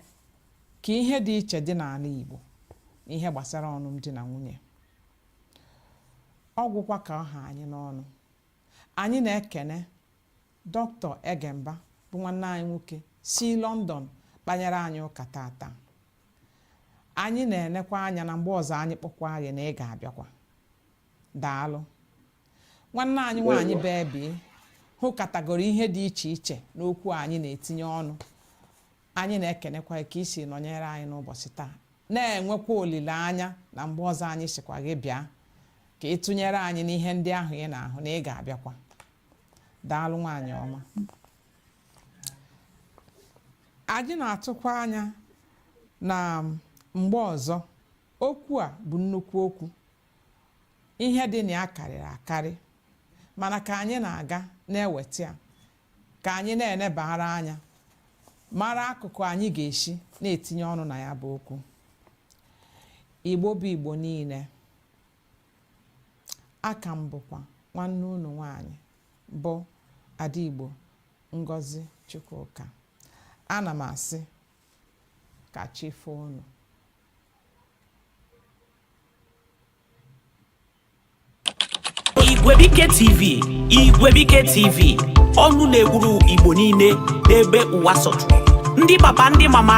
ka ihe dị iche dị n'anị Igbo n'ihe gbasara ọnụnụ di na nwunye ọ gwụkwa ka ọ ha anyị n'ọnụ anyị na-ekene dọkịta Egemba bụ nwanne anyị nwoke si London kpanyere anyị ụka tata anyị na-enekwa anya na mgbe ọzọ anyị kpọkwa gị na ị ga-abịakwa daalụ nwanne anyị nwaanyị bebi hụkatagoro ihe dị iche iche n'okwu anyị na-etinye ọnụ anyị na-ekenekwa ka i si nọnyere anyị n'ụbọsị taa na-enwekwa olileanya na mgbe ọzọ anyị sikwa gị bịa ka ị tụnyere anyị n'ihe ndị ahụ ị na-ahụ na ị ga-abịakwa daalụ nwaanyị ọma anyị na-atụkwa anya na mgbe ọzọ okwu a bụ nnukwu okwu ihe dị na ya karịrị akarị mana ka anyị na-aga na-eweta ya ka anyị na-enebara anya mara akụkụ anyị ga-esi na-etinye ọnụ na ya bụ okwu igbo bụ igbo niile a ka m bụkwa nwanne unu nwanyị bụ ada igbo ngozi chukwuka ana m asị ka chi foo unu igwebike tv igwebike tv ọnụ na-ekwuru igbo niile n'ebe ụwa sọtụrụ ndị papa ndị mama